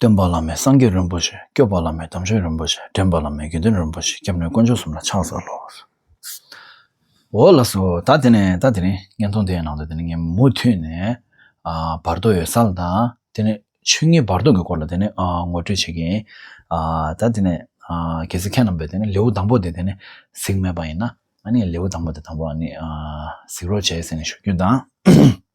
སྟོན་པ་བླ་མའི་སངས་རྒྱས་རིན་པོ་ཆེ་སྐྱོབ་པ་བླ་མའི་དམ་ཆོས་རིན་པོ་ཆེ་འདྲེན་པ་བླ་མའི་དགེ་འདུན་རིན་པོ་ཆེ་སྐྱབས་གནས་དཀོན་མཆོག་གསུམ་ལ་ཕྱག་འཚལ་ལོ། འོ་ལགས་སོ། ད་དེ་ནས་ད་དེ་རིང་བརྙན་ཐུང་དེའི་ནང་དུ་དེ་ནས་ངས་མུ་མཐུད་ནས་བར་དོ་ཡོད་སར་དང་དེ་ནས་ཆོས་ཉིད་བར་དོ་གི་སྐོར་ལ་དེ་ནས་ངོ་སྤྲོད་བྱེད་ཀྱིན། ད་དེ་ནས་གལ་སྲིད་ཁྱེད་རྣམས་པས་དེ་ནས་ལེའུ་དང་པོ་དེ་དེ་ནས་གཟིགས་མེད་པ་ཡིན་ན། ང་ནི་ལེའུ་དང་པོ་དེ་དང་པོ་ནི་གཟིགས་རོགས་བྱེད་ཟེར་ནས་ཞུ་རྒྱུ་དང།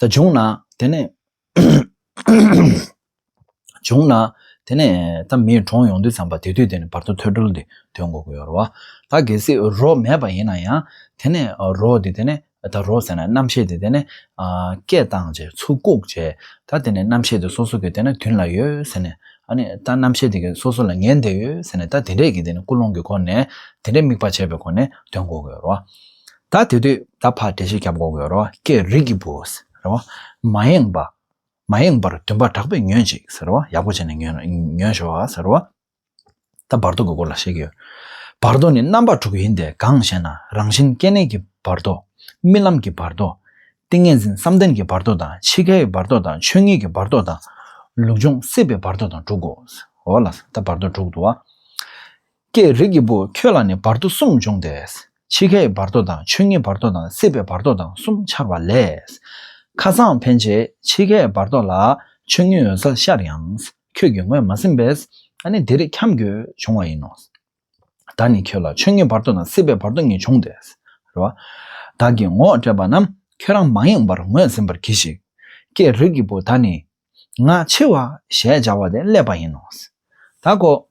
ད་བྱུང་ན་དེ་ནས། བྱུང་ན་དེ་ནས་ད་མིའི་གྲོངས་ཡོང་དུས་ཙམ་པ་དེ་དུས་དེ་ནས་བར་དོ་ཐོས་གྲོལ་འདི་དོན་གོ་དགོས་རོ། ད་གལ་སྲིད་རོ་མེད་པ་ཡིན་ན་ཡང་དེ་ནས་རོ་དེ་དེ་ནས་ད་རོ་ཟེར་ན་རྣམ་ཤེས་དེ་དེ་ནས་སྐད་བཏང་བྱས་ཚུར་བཀུག་བྱས་ད་དེ་ནས་རྣམ་ཤེས་དེ་སོ་སོ་གི་དེ་ནས་དུན་ལ་ཡོད་ཟེར་ནས་ཨ་ནི་ད་རྣམ་ཤེས་དེ་གི་སོ་སོ་ལ་ངན་འདེད་ཡོད་ཟེར་ནས་ད་དེ་འདྲས་ཀྱི་དེ་ནས་ཀུན་སློང་གི་སྒོ་ནས་དེ་འདྲས་དམིགས་པ་བྱས་པའི་སྒོ་ནས་དོན་གོ་དགོས་རོ། ད་དེ་དུས་ད་བར་འབྲས་བུ་སྐྱབས་འགོག་གི་རོ་ཀྱི་རིགས་ཀྱི་བུ། མ་ཡེངས་པ། མ་ཡེངས་པར་འདུན་པ་དྲག་པོས་ཉོན་ཅིག། ཡག་པོ་བྱས་ནས་ཉོན་ཞོག། ད་བར་དོ་གི་སྐོར་ལ་བཤད་ཀྱི་ཡོད། བར་དོ་ནི་རྣམ་པ་དྲུག་ཡིན་ཏེ་གང་ཞེ་ན་རང་བཞིན་སྐྱེ་གནས་ཀྱི་བར་དོ། རྨི་ལམ་གྱི་བར་དོ། ཏིང་ངེ་འཛིན་བསམ་གཏན་གྱི་བར་དོ་དང་འཆི་ཁའི་བར་དོ་དང་ཆོས་ཉིད་ཀྱི་བར་དོ་དང། ལུགས་འབྱུང་སྲིད་པའི་བར་དོ་དང་དྲུག་གོ། ད་བར་དོ་དྲུག་ཏུ། ཀྱེ་རིགས་ཀྱི་བུ་ཁྱོད་ལ་ནི་བར་དོ་གསུམ་འབྱུང་སྟེ། འཆི་ཁའི་བར་དོ་དང་ཆོས་ཉིད་བར་དོ་དང་སྲིད་པའི་བར་དོ་དང་གསུམ་འཆར་བ་ལས། ཁ་རྩང་འཕེན་བྱེད་འཆི་ཁའི་བར་དོ་ལ་ཆོས་ཉིད་འོད་གསལ་ཤར་ཡང། ཁྱོད་ཀྱིས་ངོས་མ་ཟིན་པས་ནི་འདིར་འཁྱམས་དགོས་བྱུང་བ་ཡིན་ནོ། བདག་ནི་ཁྱོད་ལ་ཆོས་ཉིད་བར་དོ་དང་སྲིད་པའི་བར་དོ་གཉིས་འབྱུང་སྟེ། རེ་བ། བདག་གིས་ངོ་སྤྲད་པ་རྣམས་ཁྱོད་རང་མ་ཡེངས་པར་ངོས་ཟིན་པར་གྱིས་ཤིག། ཀྱེ་རིགས་ཀྱི་བུ་ད་ནི། ང་འཆི་བ་ཞེས་བྱ་བ་དེ་བསླད་པ་ཡིན་ནོ། བདག་གོ།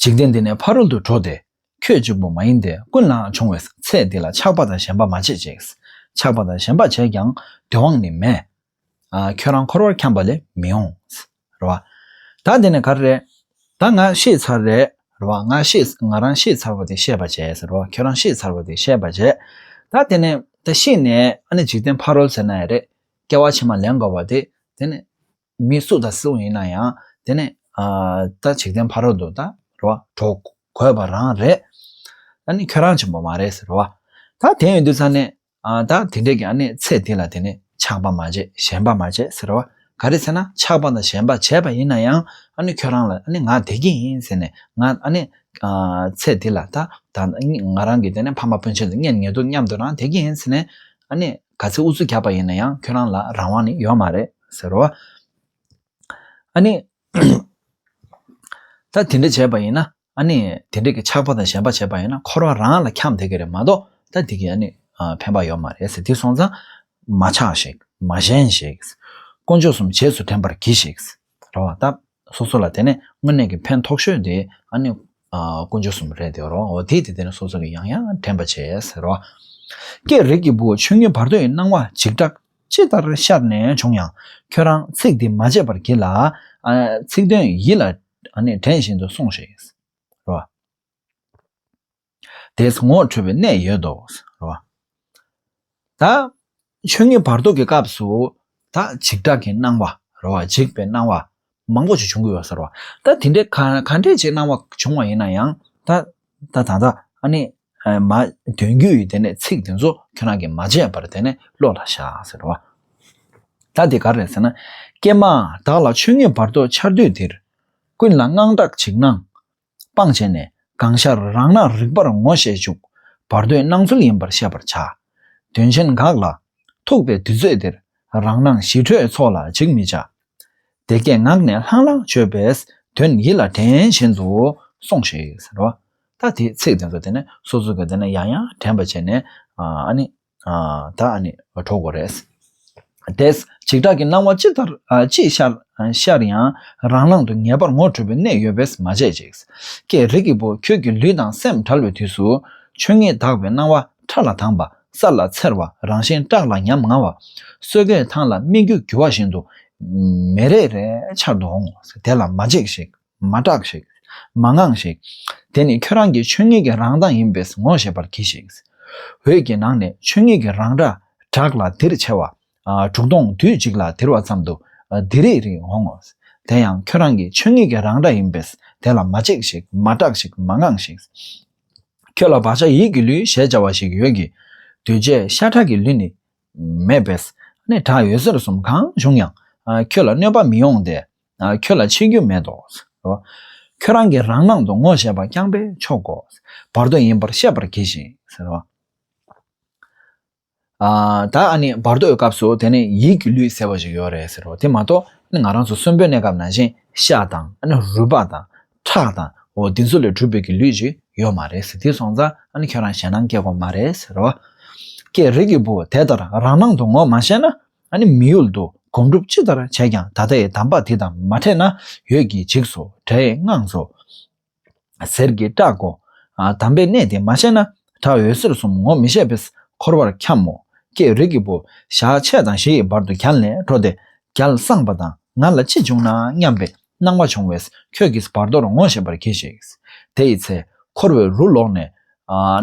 འཇིག་རྟེན་འདི་ནས་ཕ་རོལ་ཏུ་འགྲོ་སྟེ། ཁྱོད་གཅིག་པུ་མ་ཡིན་ཏེ་ཀུན་ལའང་འབྱུང་བས་ཚེ་འདི་ལ་ཆགས་པ་དང་ཞེན་པ་མ་བྱེད་ཅིག། ཆགས་པ་དང་ཞེན་པ་བྱས་ཀྱང་བདེ་བའང་ནི་མེད། ཁྱོད་རང་འཁོར་བར་འཁྱམས་པ་ལས་མི་འོང། རེ་བ། ད་འདི་ནས་ག་རེ་རེད། ད་ང་ཤེས་ཚར་རེད། རེ་བ། ང་ཤེས། ང་རང་ཤེས་ཚར་བ་དེ་ཤེས་པར་བྱས། རེ་བ། ཁྱོད་རང་ཤེས་ཚར་བ་དེ་ཤེས་པར་བྱས། ད་དེ་ནས་ད་ཤེས་ནས་ཨ་ནི་འཇིག་རྟེན་ཕ་རོལ་ཟེར་ན་ཡང་རེད། སྐྱེ་བ་ཕྱི་མ་ལེན་དགོས་པ་དེ་དེ་ནི། མི་སུ་དང་སུ་ཡིན་ན་ཡང་དེ་ནི་ད་འཇིག་རྟེན་ཕ་རོལ་དུ་ད་རོ་གྲོགས་གོས་པ་རང་རེད། ད་ནི་ཁྱོད་རང་ཆེན་པོ་མ་རེད་ཟེར་རོ། ད་དེ་ཡོད་དུས་ཚར་ནས་ད་དེ་འདྲས་ཀྱི་ཨ་ནི་ཚེ་འདི་ལ་དེ་ནི་ཆགས་པ་མ་བྱས་ཞེན་པ་མ་བྱས་ཟེར་རོ། ག་རེ་ཟེར་ན་ཆགས་པ་དང་ཞེན་པ་བྱས་པ་ཡིན་ན་ཡང་ཨ་ནི་ཁྱོད་རང་ལ་ཨ་ནི་ང་དེ་གི་ཡིན་ཟེར་ནས་ང་ཨ་ནི་ཚེ་འདི་ལ་ད་ང་རང་གི་དེ་ནི་ཕ་མ་སྤུན་མཆེད་དང་གཉེན་ཉེ་དོ་མཉམ་དུ་རང་དེ་གི་ཡིན་ཟེར་ནས་ཨ་ནི་ག་ཚད་ཨུ་ཚུགས་རྒྱག་པ་ཡིན་ན་ཡང་ཁྱོད་རང་ལ་རང་དབང་ནི་ཡོད་མ་རེད་ཟེར་རོ། ཨ་ནི། ད་དེ་འདྲ་བྱས་པ་ཡིན་ན་ཨ་ནི་དེ་འདྲས་ཀྱི་ཆགས་པ་དང་ཞེན་པ་བྱས་པ་ཡིན་ན་འཁོར་བ་རང་ལ་འཁྱམས་བསྡད་ཀྱི་རེད་མ་གཏོགས་ད་དེ་གིས་ཨ་ནི་ཕན་པ་ཡོད་མ་རེད་ཟེར་དེ་སོང་ཙང། མ་ཆགས་ཤིག་མ་ཞེན་ཤིག། དཀོན་མཆོག་གསུམ་རྗེས་སུ་དྲན་པར་གྱིས་ཤིག། རོ། སྟབས་སོ་སོ་ལ་དེ་ནས་དངོས་གནས་ཀྱི་ཕན་ཐོགས་ཤོས་དེ་ཨ་ནི་ཀུན་སྦྱོར་གསུམ་རེད་དེ་རོ། འོ་དེས་དེ་དེ་ནས་སོ་སོ་ལ་ཡང་ཡང་དྲན་པར་བྱེད་ཟེར་རོ། ཀྱེ་རིགས་ཀྱི་བུ་ཆོས་ཉིད་བར་དོའི་སྣང་བ་འཇིགས་སྐྲག་ཅི་ལྟར་ཤར་ནས་བྱུང་ཡང་ཁྱོད་རང་ཚིག་འདི་མ་བརྗེད་པར་གྱིས་ལ། ཚིག་དོན་ཡིད་ལ་དྲན་བཞིན་དུ་སོང་ཞིག། རོ། དེས་ངོ་འཕྲོད་པའི་གནས་ཡོད་དོ། རེད་བ། ད། ཆོས་ཉིད་བར་དོ་གི་སྐབས་སུ། ད་འཇིགས་སྐྲག་གི་སྣང་བ། རེད་བ། འཇིགས་པའི་སྣང་བ། མང་པོ་ཞིག་བྱུང་གི་ཡོད། རེད་བ། ད་དེ་འདྲའི་ག་ག་འདྲའི་ཆེ་སྣང་བ་བྱུང་བ་ཡིན་ན་ཡང། ད། ད་ད་ད། ཨ་ནི། མ། དོན་རྒྱུ་ཡི་དེ་ནས་ཚིག་དེ་ཚོ་ཁྱོད་རང་གིས་མ་བརྗེད་པར་དེ་ནས་བློ་ལ་བཞག། རེད་བ། ད་དེ་ག་རེད་ཟེར་ན། ཀྱེ་མ། བདག་ལ་ཆོས་ཉིད་བར་དོ་འཆར་དུས་དེར། ཀུན་ལ་དངངས་སྐྲག་འཇིགས་སྣང། སྤངས་བྱས་ནས་གང་ཤར་རང་སྣང་རིག་པར་ངོ་ཤེས་འཇུག། བར་དོའི་སྣང་ཚུལ་ཡིན་པར་ཤེས་པར་བྱ། དོན་ཆེན་འགགས་ལ། ཐུག་པའི་དུས་ཚོད་འདིར། རང་སྣང་ཞི་ཁྲོའི་ཚོགས་ལ་འཇིགས་མི་བྱ། དེ་སྐད་ངག་ནས་ལྷང་ལྷང་བརྗོད་པས་དོན་ཡིད་ལ་དྲན་བཞིན་དུ་སོང་ཞིག་ཟེར་བ། ད་དེའི་ཚིག་དེ་ཚོ་དེ་ནས་སོ་སོ་གི་དེ་ནས་ཡང་ཡང་དྲན་པ་བྱས་ནས། ཨ་ནི། ད་ཨ་ནི་གྲོགས་པོ་རེད། དེས་འཇིགས་སྐྲག་གི་སྣང་བ་ཅི་ལྟར་ཅི་ཤར་ཡང་རང་སྣང་དུ་ངེས་པར་ངོ་འཕྲོད་པའི་གནས་ཡོད་པས་མ་བརྗེད་ཅིག། ཀྱེ་རིགས་ཀྱི་བུ་ཁྱོད་ཀྱི་ལུས་དང་སེམས་བྲལ་བའི་དུས་སུ། ཆོས་ཉིད་དག་པའི་སྣང་བ་ཕྲ་ལ་དངས་པ་ས་ལ་འཚེར་བ་རང་བཞིན་བཀྲག་ལ་ཉམ་ང་བ། སོས་ཀའི་ཐང་ལ་སྨིག་རྒྱུ་རྒྱུ་བ་བཞིན་དུ། མེ་རེ་རེ་འཆར་དུ་འོང་ངོ། དེ་ལ་མ་འཇིགས་ཤིག། མ་སྐྲག་ཤིག། མ་དངངས་ཤིག། དེ་ནི་ཁྱོད་རང་གི་ཆོས་ཉིད་ཀྱི་རང་མདངས་ཡིན་པས་ངོ་ཤེས་པར་གྱིས་ཤིག། འོད་ཀྱི་ནང་ནས་ཆོས་ཉིད་ཀྱི་རང་སྒྲ་གྲགས་ལ་དིར་ཆེ་བ། དྲུག་སྟོང་དུས་གཅིག་ལ་དིར་བ་ཙམ་དུ་དིར་རིག་རིག་འོང་ངོ། དེ་ཡང་ཁྱོད་རང་གི་ཆོས་ཉིད་ཀྱི་རང་སྒྲ་ཡིན་པས་དེ་ལ་མ་གཅིག་ཤིག་མ་སྐྲག་ཤིག་མ་དངངས་ཤིག། ཁྱོད་ལ་བག་ཆགས་ཡིད་ཀྱི་ལུས་ཞེས་བྱ་བ་ཞིག་ཡོད་ཀྱི། འདུས་བྱས་ཤ་ཁྲག་གི་ལུས་ནི་མེད་པས་ནི་བྲག་ཡོད་ཟེར་གསུམ་གང་བྱུང་ཡང་ཁྱོད་ལ་གནོད་པ་མི་ཡོང་སྟེ། ཁྱོད་ལ་འཆི་རྒྱུ་མེད་དོ། ཁྱོད་རང་གི་རང་སྣང་དུ་ངོ་ཤེས་པ་རྐྱང་པས་ཆོག་གོ། བར་དོ་ཡིན་པར་ཤེས་པར་གྱིས་ཤིག། ད་ནི་བར་དོའི་སྐབས་སུ་དེ་ནི་ཡིད་ཀྱི་ལུས་ཟེར་བ་ཞིག་ཡོད་རེད་ཟེར་རོ། དེ་མ་གཏོགས་ང་རང་ཚོ་གསོན་པོའི་གནས་སྐབས་ན་ཤིང་ཤ་དང། རུས་པ་དང། ཁྲག་དང། འདི་ཚོ་ལས་གྲུབ་པའི་ཀྱི་ལུས་ཅིག་ཡོད་མ་རེད། དེ་སོང་ཙང་ཁྱོད་རང་ཞེད་སྣང་སྐྱེ་གོ་མ་རེད། ཀྱེ་རིགས་ཀྱི་བུ་དེ་ལྟར་རང་སྣང་དུ་ངོ་མ་ཤེས་ན། ཨ་ནི་མི་ཡུལ་དུ་སྒོམ་སྒྲུབ་ཅི་ལྟར་བྱས་ཀྱང་ད་ལྟའི་གདམས་པ་དེ་དང་མ་འཕྲད་ན་ཡོད་ཀྱིས་འཇིགས་སོ་དགྲའི་དངངས་སོ། ཟེར་གྱིས་སྐྲག་གོ། དམ་པའི་གནས་དེ་མ་ཤེས་ན་དགྲ་འོད་ཟེར་གསུམ་ངོ་མི་ཤེས་པས་འཁོར་བར་འཁྱམ་མོ། ཀྱེ་རིགས་ཀྱི་བུ། ཞག་ཕྱེད་དང་བཞི་ཡི་བར་དུ་གྱ་ལས་འགྲོ་སྟེ། རྒྱལ་བསངས་པ་དང་ང་ལ་ཅི་འབྱུང་ན་སྙམ་པའི་སྣང་བ་བྱུང་བས་ཁྱོད་ཀྱིས་བར་དོར་ངོ་ཤེས་པར་གྱིས་ཤིག། དེ་ཡི་ཚེ། འཁོར་བའི་རུ་ལོག་ནས།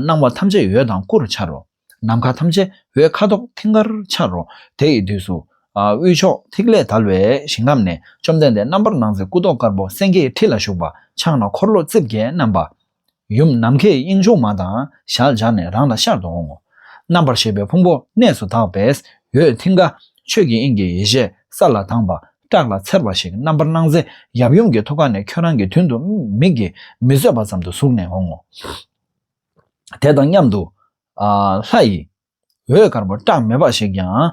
སྣང་བ་ཐམས་ཅད་ཡོད་དང་སྐུར་འཆར་རོ། ནམ་མཁའ་ཐམས་ཅད་འོད་ཁ་དོག་མཐིང་གར་འཆར་རོ། དེ་ཡི་དུས་སུ། དབུས་ཕྱོགས་ཐིག་ལེ་དལ་བའི་ཞིང་ཁམས་ནས་བཅོམ་ལྡན་འདས་རྣམ་པར་སྣང་མཛད་སྐུ་མདོག་དཀར་པོ་སེང་གེའི་ཁྲི་ལ་བཞུགས་པ་ཕྱག་ན་འཁོར་ལོ་རྩིབས་བརྒྱད་བསྣམས་པ། ཡུམ་ནམ་མཁའི་དབྱིངས་ཕྱུག་མ་དང་ཞལ་སྦྱར་ནས་རང་ལ་ཤར་དུ་འོང་ངོ། རྣམ་པར་ཤེས་པའི་ཕུང་པོ་གནས་སུ་དག་པས་འོད་མཐིང་ག། ཆོས་ཀྱི་དབྱིངས་ཀྱི་ཡེ་ཤེས་ས་ལ་དྭངས་པ་བཀྲག་ལ་འཚེར་བ་ཞིག་རྣམ་པར་སྣང་མཛད་ཡབ་ཡུམ་གྱི་ཐུགས་ཀ་ནས་ཁྱོད་རང་གི་དོན་དུ་མིག་གིས་མི་བཟོད་པ་ཙམ་དུ་ཟུག་ནས་འོང་ངོ། དེ་དང་མཉམ་དུ། ལྷ་ཡི། འོད་དཀར་པོ་བཀྲག་མེད་འབའ་ཞིག་ཀྱང།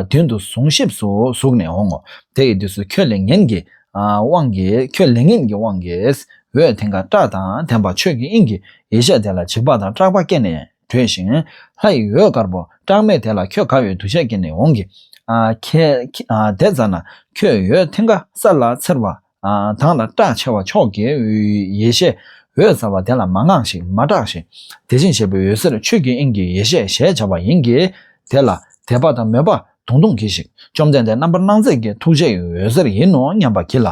མདུན་དུ་བཟུང་གཤིབས་སུ་ཟུག་ནས་འོང་ངོ། དེ་ཡི་དུས་སུ་ཁྱོད་ལས་ངན་གྱི། དབང་གིས་ཁྱོད་ལས་ངན་གྱི་དབང་གིས། འོད་དེ་འགའ་བཀྲག་དང་ལྡན་པ་ཆོས་ཀྱི་དབྱིངས་ཀྱི་ཡེ་ཤེས་དེ་ལ་འཇིགས་པ་དང་སྐྲག་པ་སྐྱེས་ནས་བྲོས་ཤིང། ལྷ་ཡི་འོད་དཀར་པོ་བཀྲག་མེད་དེ་ལ་ཁྱོད་དགའ་བའི་འདུ་ཤེས་སྐྱེས་ནས་འོང་གི། དེ་ཙམ་ན་ཁྱོད་འོད་དེ་འགའ་ས་ལ་འཚེར་བ། དང་ལ་སྐྲག་ཆེ་བ་མཆོག་དགའི་འོད་ཡེ་ཤེས་འོད་ཟ་བ་དེ་ལ་མ་བསྔགས་ཤིང་མ་སྐྲག་ཤིང་དེ་བཞིན་གཤེགས་པའི་འོད་ཟེར་ཆོས་ཀྱི་དབྱིངས་ཀྱི་ཡེ་ཤེས་ཞེས་བྱ་བ་ཡིན་གྱི། དེ་ལ་དད་པ་དང་མོས་པ་དུང་དུང་གྱིས་ཤིག་བཅོམ་ལྡན་འདས་རྣམ་པར་སྣང་མཛད་ཀྱི་ཐུགས་རྗེ་ཡི་འོད་ཟེར་ཡིན་ནོ་སྙམ་པ་གྱིས་ལ་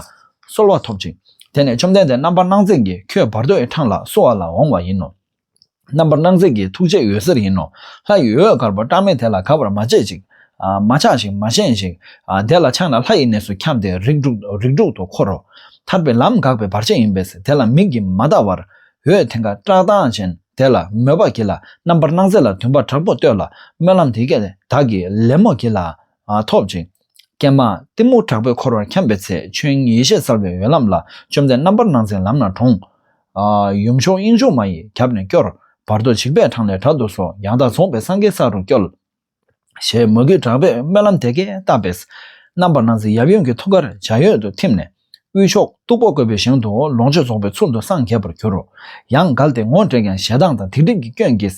གསོལ་བ་ཐོབ་ཅིག་དེ་ནས་བཅོམ་ལྡན་འདས་རྣམ་པར་སྣང་མཛད་ཀྱིས་ཁྱོད་བར་དོའི་འཕྲང་ལ་བསུ་བ་ལ་འོང་བ་ཡིན་ནོ། རྣམ་པར་སྣང་མཛད་ཀྱི་ཐུགས་རྗེ་འོད་ཟེར་ཡིན་ནོ། ལྷ་ཡི་འོད་དཀར་པོ་བཀྲག་མེད་དེ་ལ་ག་བར་མ་བྱེད་ཅིག། མ་ཆགས་ཤིག་མ་ཞེན་ཞིག། དེ་ལ་ཆགས་ན་ལྷ་ཡི་གནས་སུ་འཁྱམས་ཏེ་རིགས་དྲུག་ཏུ་འཁོར་རོ། ཐར་པའི་ལམ་འགགས་པའི་བར་ཆད་ཡིན་པས་དེ་ལ་མིག་གིས་མ་བལྟ་བར། འོད་དེ་འགའ་བཀྲག་མདངས་ཅན་དེ་ལ་མོས་པར་གྱིས་ལ་རྣམ་པར་སྣང་མཛད་ལ་འདུན་པ་དྲག་པོ་བསྟོད་ལ་སྨོན་ལམ་དེ་སྐད་བདག་གིས་ལེན་མོ་གྱིས་ལ། ཐོབ་ཅིང། ཀྱེ་མ། གཏི་མུག་དྲག་པོས་འཁོར་བར་འཁྱམས་པའི་ཚེ། ཆོས་དབྱིངས་ཡེ་ཤེས་གསལ་བའི་འོད་ལམ་ལ། བཅོམ་ལྡན་རྣམ་པར་སྣང་མཛད་ལམ་རྣམས་དྲོངས། ཡུམ་མཆོག་དབྱིངས་ཕྱུག་མ་ཡིས་རྒྱབ་ནས་སྐྱོར། བར་དོ་འཇིགས་པའི་འཕྲང་ལས་དྲག་ཏུ་གསོལ། ཡང་དག་རྫོགས་པའི་སངས་རྒྱས་ས་རུ་སྐྱོལ། ཞེས་མོས་གུས་དྲག་པོས་སྨོན་ལམ་དེ་སྐད་བཏབ་པས། རྣམ་པར་སྣང་མཛད་ཡབ་ཡུམ་གྱི་ཐུགས་ཀར་འཇའ་ཡོད་དུ་ཐིམ་ནས། དབུས་ཕྱོགས་སྟུག་པོ་བཀོད་པའི་ཞིང་དུ་ལོངས་སྤྱོད་རྫོགས་པའི་ཚུལ་དུ་སངས་རྒྱས་པར་གྱུར། ཡང་བསྒལ་ཏེ་ངོ་སྤྲད་ཀྱང་ཞེ་སྡང་དང་སྡིག་སྒྲིབ་ཀྱི་སྐྱོན་གྱིས་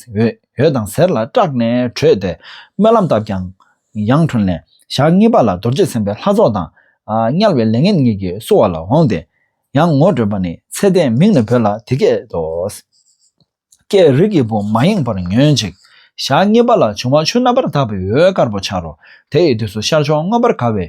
འོད་དང་ཟེར་ལ་སྐྲག་ནས་བྲོས་ཏེ་སྨོན་ལམ་བཏབ་ཀྱང། ཡང་བྲོས་ནས་ཞག་གཉིས་པ་ལ་རྡོ་རྗེ་སེམས་དཔའི་ལྷ་ཚོགས་དང་དམྱལ་བའི་ལས་ངན་གཉིས་ཀྱིས་བསུ་བ་ལ་འོངས་ཏེ། ཡང་ངོ་སྤྲོད་པ་ནི་ཚེ་ལྡན་མིང་ནས་བོས་ལ་དེ་སྐད་དོ། ཀའི་རིགས་ཀྱི་བུ་མ་ཡེངས་པར་ཉོན་ཅིག། ཞག་གཉིས་པ་ལ་འབྱུང་བ་ཆུ་རྣམ་པར་དག་པའི་འོད་དཀར་པོ་འཆར་རོ། དེ་ཡི་དུས་སུ་ཤར་ཕྱོགས་མངོན་པར་དགའ་བའི།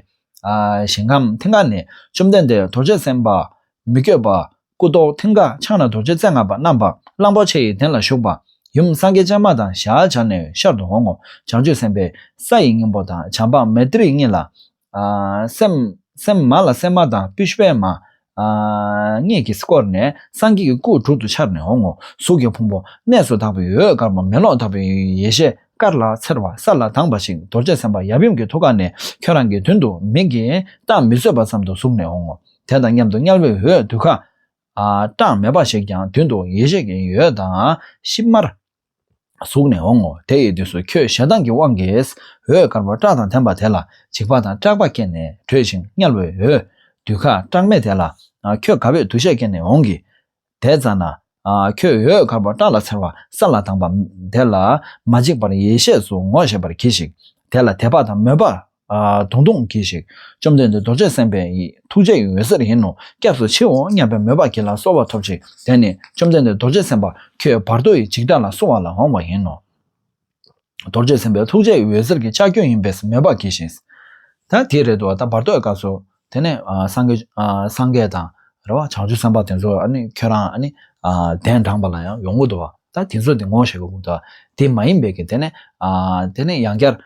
ཞིང་ཁམས་མཐིང་ག་ནས་བཅོམ་ལྡན་འདས་རྡོ་རྗེ་སེམས་དཔའ། མི་བསྐྱོད་པ། སྐུ་མདོག་མཐིང་ག་ཕྱག་ན་རྡོ་རྗེ་རྩེ་ལྔ་པ་བསྣམས་པ་གླང་པོ་ཆེ་ཡི་གདན་ལ་བཞུགས་པ། ཡུམ་སངས་རྒྱས་སྤྱན་མ་དང་ཞལ་སྦྱར་ནས་ཤར་དུ་འོང་ངོ། བྱང་ཆུབ་སེམས་དཔའི་ས་ཡི་སྙིང་པོ་དང་བྱམས་པ་མེ་ཏྲི་གཉིས་ལ། སེམས་མ་ལ་སེམས་མ་དང་སྤུས་པའི་མ། སྔས་ཀྱིས་བསྐོར་ནས་སངས་རྒྱས་ཀྱི་སྐུ་དྲུག་ཏུ་འཆར་ནས་འོང་ངོ། གཟུགས་ཀྱི་ཕུང་པོ་གནས་སུ་དག་པའི་འོད་དཀར་པོ་མེ་གློག་ལྟ་བུའི་ཡེ་ཤེས་དཀར་ལ་འཚེར་བ་ས་ལ་དྭངས་པ་ཞིག་རྡོ་རྗེ་སེམས་དཔའ་ཡབ་ཡུམ་གྱི་ཐུགས་ཀ་ནས་ཁྱོད་རང་གི་མདུན་དུ་མིག་གིས་བལྟ་མི་བཟོད་པ་ཙམ་དུ་ཟུག་ནས་འོང་ངོ། དེ་དང་མཉམ་དུ་དམྱལ་བའི་འོད་དུད་ཁ། གྲངས་མེད་པ་ཞིག་ཀྱང་མདུན་དུ་ཡེ་ཤེས་ཀྱི་འོད་དང་ཤིབ་དམར། གཟུགས་ནས་འོང་ངོ་དེ་ཡི་དུས་སུ་ཁྱོད་ཞེ་སྡང་གི་དབང་གིས་འོད་དཀར་པོ་སྐྲ་དང་ལྡན་པ་དེ་ལ་འཇིགས་པ་དང་སྐྲག་པ་སྐྱེས་ནས་བྲོས་ཤིང་དམྱལ་བའི་འོད་དུད་ཁ་སྐྲག་མེད་དེ་ལ། ཁྱོད་དགའ་བས་འདུ་ཤེས་སྐྱེས་ནས་འོང་གི། དེ་ཙམ་ན། ཁྱོད་འོད་དཀར་པོ་སྐྲ་ལ་འཚེར་བ་ས་ལ་དྭངས་པ་དེ་ལ་མ་འཇིགས་པར་ཡེ་ཤེས་སུ་ངོ་ཤེས་པར་གྱིས་ཤིག་དེ་ལ་དད་པ་དང་མོས་པ་དུང་དུང་གྱིས་ཤིག། བཅོམ་ལྡན་འདས་རྡོ་རྗེ་སེམས་དཔའ་ཡི་ཐུགས་རྗེ་ཡི་འོད་ཟེར་ཡིན་ནོ་སྐྱབས་སུ་མཆིའོ་སྙམ་པའི་མོས་པ་བགྱིས་ལ་གསོལ་བ་ཐོབ་ཅིག་དེ་ནས་བཅོམ་ལྡན་འདས་རྡོ་རྗེ་སེམས་དཔའ་ཁྱོད་བར་དོ་ཡི་འཇིག་ལྟ་ལ་བསྲུང་བ་ལ་འོང་བ་ཡིན་ནོ། རྡོ་རྗེ་སེམས་དཔའི་ཐུགས་རྗེ་ཡི་འོད་ཟེར་གྱི་ལྕགས་ཀྱུ་ཡིན་པས་མོས་པ་བགྱིས་ཤིང། ད་དེའི་རེ་ད་བར་དོའི་སྐབས་སུ། དེ་ནས་སངས་རྒྱས་སངས་རྒྱས་དང། རེ་བ་བྱང་ཆུབ་སེམས་དཔའ་དེ་ཚོ་ཁྱོད་རང་གདན་དྲངས་པ་ལ་ཡང་ཡོངས་འགུགས་བསྡུ་བ། ད་དེ་ཚོ་དེ་ངོ་ཤེས་པར་འགུགས་བསྡུ་བ། དེ་མ་ཡིན་པའི་གིས་དེ་ནས། དེ་ནས་ཡང་བསྐྱར།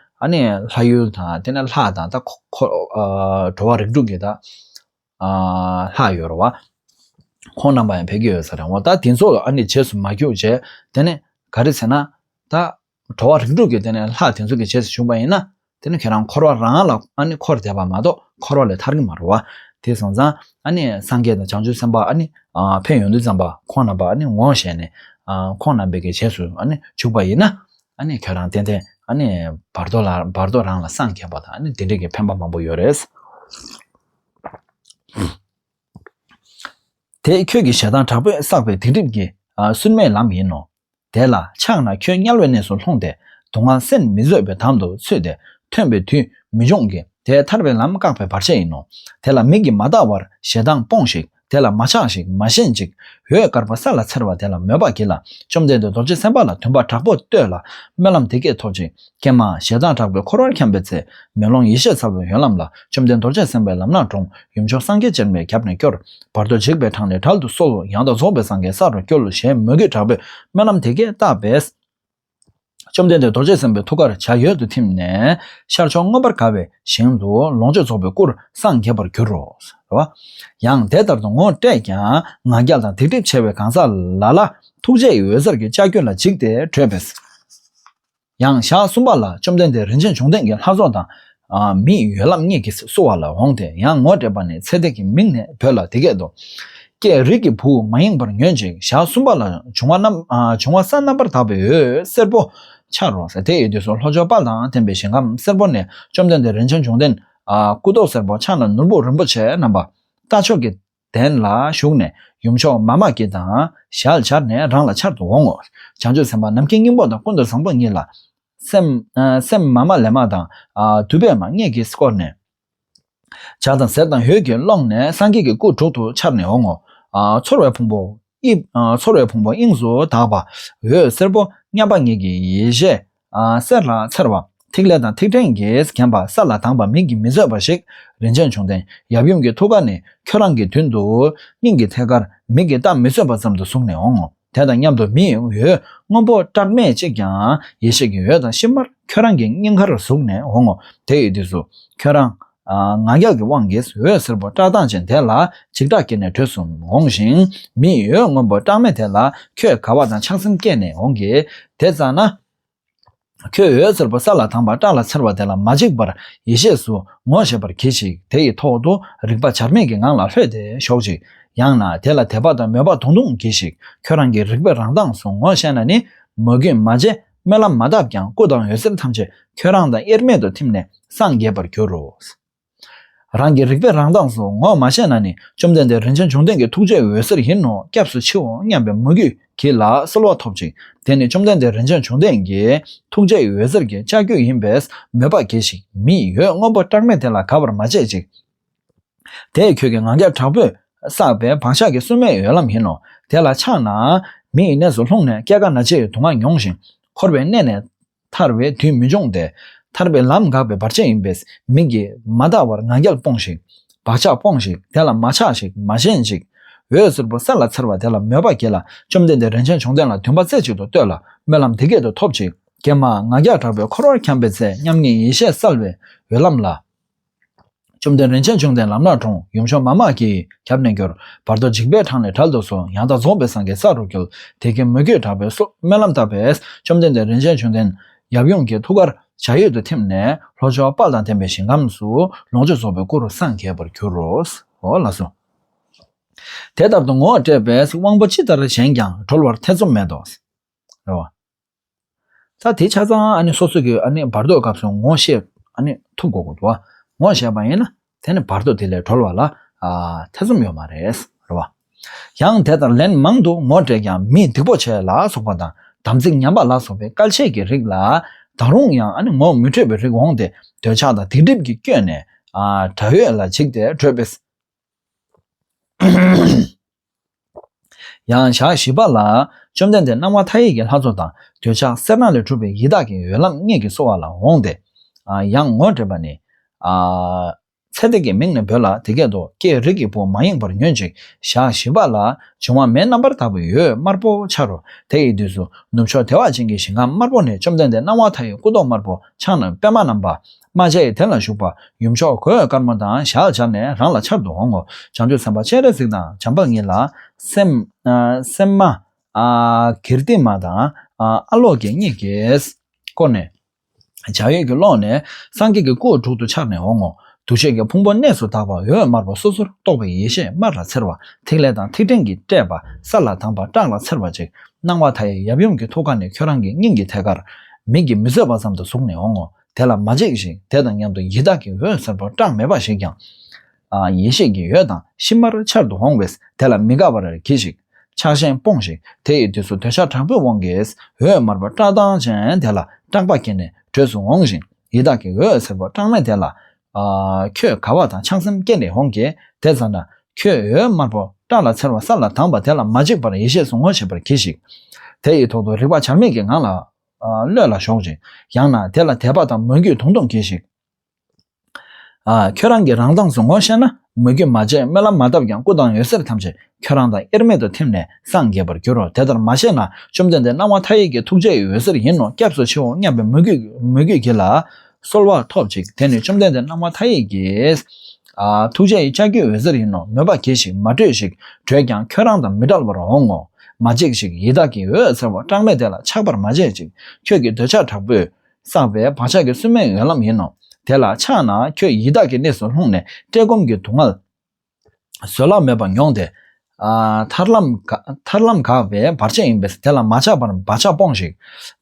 ལྷ་ཡུལ་དང་དེ་ནས་ལྷ་དང་ད། འགྲོ་བ་རིགས་དྲུག་གི་ད། ལྷ་ཡོད་རུང་བ། ཁོང་རྣམས་པ་ཡང་ཕལ་གྱི་ཡོད་ས་རེད་འོང་བ་ད་དེ་ཚོ་རྗེས་སུ་མ་བརྒྱུགས་བྱས། དེ་ནས་ག་རེ་ཟེར་ན། ད། འགྲོ་བ་རིགས་དྲུག་གི་དེ་ནས་ལྷ་དེ་ཚོ་གི་རྗེས་སུ་ཞུགས་པ་ཡིན་ན། དེ་ནི་ཁྱེད་རང་འཁོར་བ་རང་ལ་ཨ་ནི་འཁོར་འདས་པ་མ་གཏོགས་འཁོར་བ་ལས་ཐར་གྱི་མ་རོ། དེས་སོང་ཙང་ཨ་ནི་སངས་རྒྱས་དང་བྱང་ཆུབ་སེམས་དཔའ་ཨ་ནི་ཕན་ཡོན་དུ་བརྩམས་པ་ཁོང་རྣམས་པ་ཨ་ནི་ངོ་ཤེས་ནས། ཁོང་རྣམས་པའི་གི་རྗེས་སུ་ཨ་ནི་ཞུགས་པ་ཡིན་ན། ཨ་ནི་ཁྱོད་རང་ཏན་ཏན་ཨ་ནི་བར་དོ་ལ་བར་དོ་རང་ལ་སངས་རྒྱས་པ་དང་ཨ་ནི་དེ་འདྲས་ཀྱི་ཕན་པ་མང་པོ་ཡོད་རེད། དེ་ཁྱོད་ཀྱི་ཞེ་སྡང་དྲག་པོས་བསགས་པའི་སྡིག་སྒྲིབ་ཀྱི་སུན་མའི་ལམ་ཡིན་ནོ། དེ་ལ་ཕྱག་ན་ཁྱོད་དམྱལ་བའི་གནས་སུ་ལྷུང་སྟེ་དུག་ལྔ་སེམས་མི་བཟོད་པའི་དམ་དུ་ཚུད་དེ་ཐོན་པའི་དུས་མི་འབྱུང་གི་དེ་ཐར་པའི་ལམ་བཀག་པའི་བར་ཆད་ཡིན་ནོ། དེ་ལ་མིག་གིས་མ་བལྟ་བར་ཞེ་སྡང་སྤོངས་ཤིག་དེ་ལ་མ་ཆགས་ཤིག་མ་ཞེན་ཅིག་འོད་དཀར་པོ་ས་ལ་འཚེར་བ་དེ་ལ་མོས་པ་གྱིས་ལ་བཅོམ་ལྡན་འདས་རྡོ་རྗེ་སེམས་དཔའ་ལ་དུངས་པ་དྲག་པོ་བསྟོད་ལ་སྨོན་ལམ་དེ་སྐད་ཐོབ་ཅིག་ཀྱེ་མ། ཞེ་སྡང་དྲག་པོའི་འཁོར་བར་འཁྱམས་པའི་ཚེ། མེ་ལོང་ཡེ་ཤེས་ཚ་བོའི་ཡོན་ལམ་ལ། བཅོམ་ལྡན་རྡོ་རྗེ་སེམས་དཔའི་ལམ་སྣ་དྲོངས། ཡུམ་མཆོག་སངས་རྒྱས་སྤྱན་མའི་རྒྱབ་ནས་སྐྱོར། བར་དོ་འཇིགས་པའི་གྲངས་ལས་དགྲ་ལྟུ་གསོལ་ལོ། ཡང་དག་རྫོགས་པའི་སངས་རྒྱས་ས་རུ་སྐྱོལ་ལོ་ཞེས་མོས་གུས་དྲག་པོས་སྨོན་ལམ་དེ་སྐད་བཏབ་པས། བཅོམ་ལྡན་འདས་རྡོ་རྗེ་སེམས་དཔའི་ཐུགས་ཀར་བྱ་ཡོལ་དུ་ཐིམ་ནས། ཤར་ཕྱོགས་མངོན་པར་དགའ་བའི་ཞིང་དུ་ལོངས་སྤྱོད་རྫོགས་པའི་སྐུར་སངས་རྒྱས་པར་འགྱུར་རོ། རེ་བ། ཡང་དེ་ལྟར་དུ་ངོ་སྤྲད་ཀྱང་ང་རྒྱལ་དང་སྡིག་སྒྲིབ་ཆེ་བའི་གང་ཟག་ལ་ལ། ཐུགས་རྗེ་ཡི་འོད་ཟེར་གྱིས་ལྕགས་ཀྱུ་ལ་འཇིགས་ཏེ་བྲོས་པས། ཡང་ཞག་གསུམ་པ་ལ་བཅོམ་ལྡན་འདས་རིན་ཆེན་འབྱུང་ལྡན་གྱི་ལྷ་ཚོགས་དང། མི་ཡོད་ལམ་ངེས་ཀྱིས་བསུ་བ་ལ་འོངས་ཏེ་ཡང་ངོ་སྤྲད་པ་ནས་ཚེ་འདས་ཀྱི་མིང་ནས་བོས་ལ་དེ་སྐད་དུ། ཀྱེ་རིགས་ཀྱི་བུ་མ་ཡེངས་པར་ཉོན་ཅིག་ཞག་གསུམ་པ་ལ་འབྱུང་བ་ས་རྣམ་པར་དག་པའི་འོད་སེར་པོ་འཆར་རོ། དེའི་དུས་སུ་ལྷོ་ཕྱོགས་དཔག་དང་ལྡན་པའི་ཞིང་ཁམས་སེར་པོ་ནས་བཅོམ་ལྡན་འདས་རིན་ཆེན་འབྱུང་ལྡན། སྐུ་མདོག་སེར་པོ་ཕྱག་ན་ནོར་བུ་རིན་པོ་ཆེ་བསྣམས་པ། རྟ་མཆོག་གི་གདན་ལ་བཞུགས་ནས་ཡུམ་མཆོག་མཱ་མ་ཀཱི་དང་ཞལ་སྦྱར་ནས་རང་ལ་འཆར་དུ་འོང་ངོ། བྱང་ཆུབ་སེམས་དཔའ་ནམ་མཁའི་སྙིང་པོ་དང་ཀུན་ཏུ་བཟང་པོ་ཉིད་ལ། སེམས་མ་མ་ལས་མ་དང་དུ་བས་མ་སྔས་ཀྱིས་བསྐོར་ནས། བྱ་དང་ཟེར་དང་ཡོས་ཀྱིས་སློངས་ནས་སངས་རྒྱས་ཀྱི་སྐུ་དྲུག་ཏུ་འཆར་ནས་འོང་ངོ། ཚོར་བའི་ཕུང་པོ། དབྱིབས། ཚོར་བའི་ཕུང་པོ་དབྱིངས་སུ་དག་པ། འོད་སེར་པོ་མཉམ་པ་ངེད་ཀྱི་ཡེ་ཤེས། གསེར་ལ་འཚེར་བ། ཐིག་ལེ་དང་ཐིག་ཕྲན་གྱིས་བརྒྱན་པ་ས་ལ་དྭངས་པ་མིག་གིས་མི་བཟོད་པ་ཞིག། རིན་ཆེན་འབྱུང་ལྡན་ཡབ་ཡུམ་གྱི་ཐུགས་ཀ་ནས་ཁྱོད་རང་གི་མདུན་དུ། སྙིང་གི་ཐད་ཀར་མིག་གིས་བལྟ་མི་བཟོད་པ་ཙམ་དུ་ཟུག་ནས་འོང་ངོ། དེ་དང་མཉམ་དུ་མིའི་འོད་སྔོན་པོ་བཀྲག་མེད་ཅིག་ཀྱང་ཡེ་ཤེས་ཀྱི་འོད་དང་གཤིབ་མར་ཁྱོད་རང་གི་སྙིང་ཁར་ཟུག་ནས་འོང་ངོ། དེ་ཡི་དུས་སུ། ཁྱོད་རང། ང་རྒྱལ་གྱི་དབང་གིས་འོད་ཟེར་པོ་བཀྲག་མདངས་ཅན་དེ་ལ་འཇིགས་སྐྲག་སྐྱེས་ནས་བྲོས་སུ་འོང་ཞིང། མི་གཡོ་སྔོན་པོ་བཀྲག་མེད་དེ་ལ་ཁྱོད་དགའ་བ་དང་ཆགས་སེམས་སྐྱེས་ནས་འོང་གི། དེ་ཙམ་ན། ཁྱོད་འོད་ཟེར་པོ་ས་ལ་དྭངས་པ་བཀྲག་ལ་འཚེར་བ་དེ་ལ་མ་འཇིགས་པར་ཡེ་ཤེས་སུ་ངོ་ཤེས་པར་གྱིས་ཤིག་དེ་ཡི་ཐོག་ཏུ་རིག་པ་བྱར་མེད་ཀྱི་ངང་ལ་ལྷོད་དེ་ཞོག་ཅིག། ཡང་ན་དེ་ལ་དད་པ་དང་མོས་པ་དུང་དུང་གྱིས་ཤིག་ཁྱོད་རང་གི་རིག་པའི་རང་མདངས་སུ་ངོ་ཤེས་ན་ནི་མོས་གུས་མ་བྱེད། སྨོན་ལམ་མ་བཏབ་ཀྱང་སྐུ་དང་འོད་ཟེར་ཐམས་ཅད་ཁྱོད་རང་དང་དབྱེར་མེད་དུ་ཐིམ་ནས་སངས་རྒྱས་པར་འགྱུར་རོ། རང་གི་རིག་པའི་རང་མདངས་སུ་ངོ་མ་ཤེས་ན་ནི་བཅོམ་ལྡན་འདས་རིན་ཆེན་འབྱུང་ལྡན་གྱི་ཐུགས་རྗེའི་འོད་ཟེར་ཡིན་ནོ་སྐྱབས་སུ་མཆིའོ་སྙམ་པའི་མོས་གུས་གྱིས་ལ་གསོལ་བ་ཐོབ་ཅིང་དེ་ནི་བཅོམ་ལྡན་འདས་རིན་ཆེན་འབྱུང་ལྡན་གྱི་ཐུགས་རྗེའི་འོད་ཟེར་གྱི་ལྕགས་ཀྱུ་ཡིན་པས་མོས་པ་གྱིས་ཤིག་མི་གཡོ་སྔོན་པོ་བཀྲག་མེད་དེ་ལ་དགའ་བར་མ་བྱེད་ཅིག། དེས་ཁྱོད་ཀྱི་ངང་རྒྱབ་དྲག་པོས་བསགས་པའི་བག་ཆགས་ཀྱི་སུན་མའི་འོད་ལམ་ཡིན་ནོ། དེ་ལ་ཕྱག་ན་མི་ཡི་གནས་སུ་ལྷུང་ནས་སྐྱེ་རྒ་ན་འཆི་ཡི་དུག་ལྔ་མྱོང་ཞིང་འཁོར་བའི་གནས་ནས་ཐར་བའི་དུས་མི་འབྱུང་སྟེ། ཐར་པའི་ལམ་འགགས་པའི་བར་ཆད་ཡིན་པས་མིག་གིས་མ་འདའ་བར་ངང་རྒྱལ་སྤོངས་ཤིག། བག་ཆགས་སྤོངས་ཤིག་དེ་ལ་མ་ཆགས་ཤིག་མ་ཞེན་ཅིག། འོད་ཟེར་པོ་གསལ་ལ་འཚེར་བ་དེ་ལ་མོས་པ་བསྐྱེད་ལ་བཅོམ་ལྡན་འདས་རིན་ཆེན་འབྱུང་ལྡན་ལ་འདུན་པ་རྩེ་གཅིག་ཏུ་གཏོད་ལ་སྨོན་ལམ་འདི་སྐད་དུ་ཐོབ་ཅིག། ཀྱེ་མ་ངང་རྒྱལ་དྲག་པོའི་འཁོར་བར་འཁྱམས་པའི་ཚེ་མཉམ་ཉིད་ཡེ་ཤེས་གསལ་བའི་འོད་ལམ་ལ། བཅོམ་ལྡན་རིན་ཆེན་འབྱུང་ལྡན་ལམ་ནག་དྲུང་ཡུམ་ཆོས་མ་དམག་གིས་ཁྱབ་ནས་འགྱུར། བར་དོ་འཇིགས་པའི་འཕྲང་ལས་གྲལ་དུ་སོང་ཡང་དག་རྫོགས་པའི་སངས་རྒྱས་ས་རུ་འགྱུར། དེ་སྐད་མོས་གུས་དྲག་པོས་སོགས་སྨོན་ལམ་བཏབ་པས་བཅོམ་ལྡན་འདས་རིན་ཆེན་འབྱུང་ལྡན། ཡབ་ཡུམ་གྱི་ཐུགས་ཀར་བྱ་ཡུལ་དུ་ཐིམ་ནས་ལྷོ་ཕྱོགས་དཔག་དང་ལྡན་པའི་ཞིང་ཁམས་སུ་ལོངས་སྤྱོད་རྫོགས་པའི་སྐུ་རུ་སངས་རྒྱས་པར་གྱུར་རོ། ཧོ་ལ་སོ། དེ་ལྟར་དུ་ངོ་སྤྲད་པས་དབང་པོ་ཅི་ལྟར་བྱེད་ཀྱང་གྲོལ་བར་ཐེ་ཚོམ་མེད་དོ། རེ་བ། ས་དེ་ཆ་ཚང་སོ་སོ་གིས་བར་དོའི་སྐབས་སུ་ངོ་ཤེས་ཐུབ་དགོས་ཀྱི་འདུག་ངོ་ཤེས་པ་ཡིན་ན་དེ་བར་དོ་དེ་ལས་གྲོལ་བ་ལ་ཐེ་ཚོམ་ཡོད་མ་རེད། ཡང་དེ་དང་ལན་མང་དུ་ངོ་སྤྲད་ཀྱང་མིས་སྡིག་པོ་ཆེ་ལ་སོགས་པ་དང་དམ་ཚིག་ཉམས་པ་ལ་སོགས་པའི་བཀའ་ཆད་ཀྱི་རིགས་ལ་ད་རུང་ཡང་ངོ་མི་འཕྲོད་པའི་རིགས་འོང་སྟེ་འདོད་ཆགས་དང་སྡིག་སྒྲིབ་ཀྱིས་བསྐྱོད་ནས་དགྲ་ཡོད་ལ་འཇིགས་ཏེ་བྲོས་པས། ཡང་ཞག་བཞི་པ་ལ། བཅོམ་ལྡན་འདས་སྣང་བ་མཐའ་ཡས་ཀྱི་ལྷ་ཚོགས་དང་འདོད་ཆགས་གསེར་ནག་ལས་གྲུབ་པའི་ཡི་དྭགས་ཀྱི་འོད་ལམ་སྔས་ཀྱིས་གསོ་བ་ལ་འོངས་ཏེ། ཡང་ངོ་སྤྲད་པ་ནི། ཚེ་འདས་ཀྱི་མིང་ནས་འབོད་ལ་དེ་སྐད་དུ་ཀྱེ་རིགས་ཀྱི་བུ་མ་ཡེངས་པར་ཉོན་ཅིག་ཞག་བཞི་པ་ལ། འབྱུང་བ་མེའི་རྣམ་པར་དག་པའི་ཡོས་དམར་པོ་འཆར་རོ། དེ་ཡི་དུས་སུ་ནུབ་ཕྱོགས་བདེ་བ་ཅན་གྱི་ཞིང་ཁམས་དམར་པོ་ནས་བཅོམ་ལྡན་འདས་སྣང་བ་མཐའ་ཡས་སྐུ་མདོག་དམར་པོ་ཕྱག་ན་པདྨ་བསྣམས་པ། རྨ་བྱའི་དེ་ལ་བཞུགས་པ་ཡུམ་མཆོག་གོས་དཀར་མོ་དང་ཞག་བཅར་ནས་རང་ལ་འཆར་དུ་འོང་ངོ། བྱང་ཆུབ་སེམས་དཔའ་སྤྱན་རས་གཟིགས་དང་བྱམས་པ་ཉིད་ལ། སེམས་མ། ཀིརྟི་མ་དང། ཨ་ལོག་གིས་གཉིས་ཀྱིས། བསྐོར་ནས། བྱ་ཡུལ་གྱི་ཀློང་ནས་སངས་རྒྱས་ཀྱི་སྐུ་དྲུག་ཏུ་འཆར་ནས་འོང་ངོ། འདུ་བྱེད་ཀྱི་ཕུང་པོ་གནས་སུ་དག་པ་འོད་དམར་པོ་སོ་སོར་རྟོག་པའི་ཡེ་ཤེས་དམར་ལ་འཚེར་བ་ཐིག་ལེ་དང་ཐིག་ཕྲེང་གིས་སྤྲས་པ་སར་ལ་དངས་པ་བཀྲག་ལ་འཚེར་བ་ཅིག་སྣང་བ་མཐའ་ཡས་ཡབ་ཡུམ་གྱི་ཐུགས་ཀ་ནས་ཁྱོད་རང་གི་སྙིང་གི་ཐད་ཀར། མིག་གིས་མི་བཟོད་པ་ཙམ་དུ་ཟུག་ནས་འོང་ངོ། དེ་ལ་མ་འཇིགས་ཤིང་དེ་དང་མཉམ་དུ་ཡི་དྭགས་ཀྱི་འོད་ཟེར་པོ་སྐྲག་མེད་པ་ཞིག་ཀྱང། ཡེ་ཤེས་ཀྱི་ཡོས་དང་ཤི་མར་འཆར་དུ་འོང་བས་དེ་ལ་མི་དགའ་བར་གྱིས་ཤིག། ཆགས་ཞེན་སྤོངས་ཤིག་དེ་ཡི་དུས་སུ་དོལ་ཤ་དྲག་པོའི་དབང་གིས་འོད་དམར་པོ་སྐྲག་སྡང་ཅན་དེ་ལ་སྐྲག་པ་སྐྱེས་ནས་བྲོས་སུ་འོང་ཞིང་ཡི་དྭགས་ཀྱི་འོད་ཟེར་པོ་སྐྲག་མེད་དེ་ལ། ཁྱོད་དགའ་བ་དང་ཆགས་སེམས་སྐྱེས་ནས་འོང་གི་དེ་ཙམ་ན། ཁྱོད་འོད་དམར་པོ་སྐྲག་ལ་འཚེར་བ་ས་ལ་དྭངས་པ་དེ་ལ་མ་འཇིགས་པར་ཡེ་ཤེས་སུ་ངོ་ཤེས་པར་གྱིས་ཤིག། དེ་ཡི་ཐོག་ཏུ་རིག་པ་བྱར་མེད་ཀྱི་ངང་ལ་བློས་ལ་ཞོག་ཅིག། ཡང་ན་དེ་ལ་དད་པ་དང་མོས་གུས་དུང་དུང་གྱིས་ཤིག། ཁྱོད་རང་གིས་རང་མདངས་སུ་ངོ་ཤེས་ན། མོས་གུས་མ་བྱས་སྨོན་ལམ་མ་བཏབ་ཀྱང་སྐུ་དང་འོད་ཟེར་ཐམས་ཅད་ཁྱོད་རང་དང་དབྱེར་མེད་དུ་ཐིམ་ནས་སངས་རྒྱས་པར་འགྱུར་རོ། དེ་ལྟར་མ་བྱས་ན་བཅོམ་ལྡན་འདས་སྣང་བ་མཐའ་ཡས་ཀྱི་ཐུགས་རྗེ་ཡི་འོད་ཟེར་ཡིན་ནོ་སྐྱབས་སུ་མཆིའོ་སྙམ་པའི་མོས་གུས་ཀྱིས་ལ། གསོལ་བ་ཐོབ་ཅིག་དེ་ནི་བཅོམ་ལྡན་འདས་སྣང་བ་མཐའ་ཡས་ཀྱིས། ཐུགས་རྗེ་ཡི་ལྕགས་ཀྱུས་འོད་ཟེར་ཡིན་ནོ་མོས་པ་གྱིས་ཤིག་མ་བྲོས་ཤིག་བྲོས་ཀྱང་ཁྱོད་རང་དང་མི་འདྲ་བར་འོང་ངོ། མ་འཇིགས་ཤིག་ཡི་དྭགས་ཀྱི་འོད་ཟེར་བ་གྲངས་མེད་དེ་ལ་ཆགས་པར་མ་བྱེད་ཅིག་ཁྱོད་ཀྱི་འདོད་ཆགས་དྲག་པོས་བསགས་པའི་བག་ཆགས་ཀྱི་སུན་མའི་འོད་ལམ་ཡིན་ནོ། དེ་ལ་ཆགས་ན་ཁྱོད་ཡི་དྭགས་ཀྱི་གནས་སུ་ལྷུང་ནས་བཀྲེས་སྐོམ་གྱི་སྡུག་བསྔལ། བཟོད་གླགས་མེད་པར་མྱོང་སྟེ། ཐར་ལམ་འགགས་པའི་བར་ཆད་ཡིན་པས་དེ་ལ་མ་ཆགས་པར་བག་ཆགས་སྤོངས་ཤིག།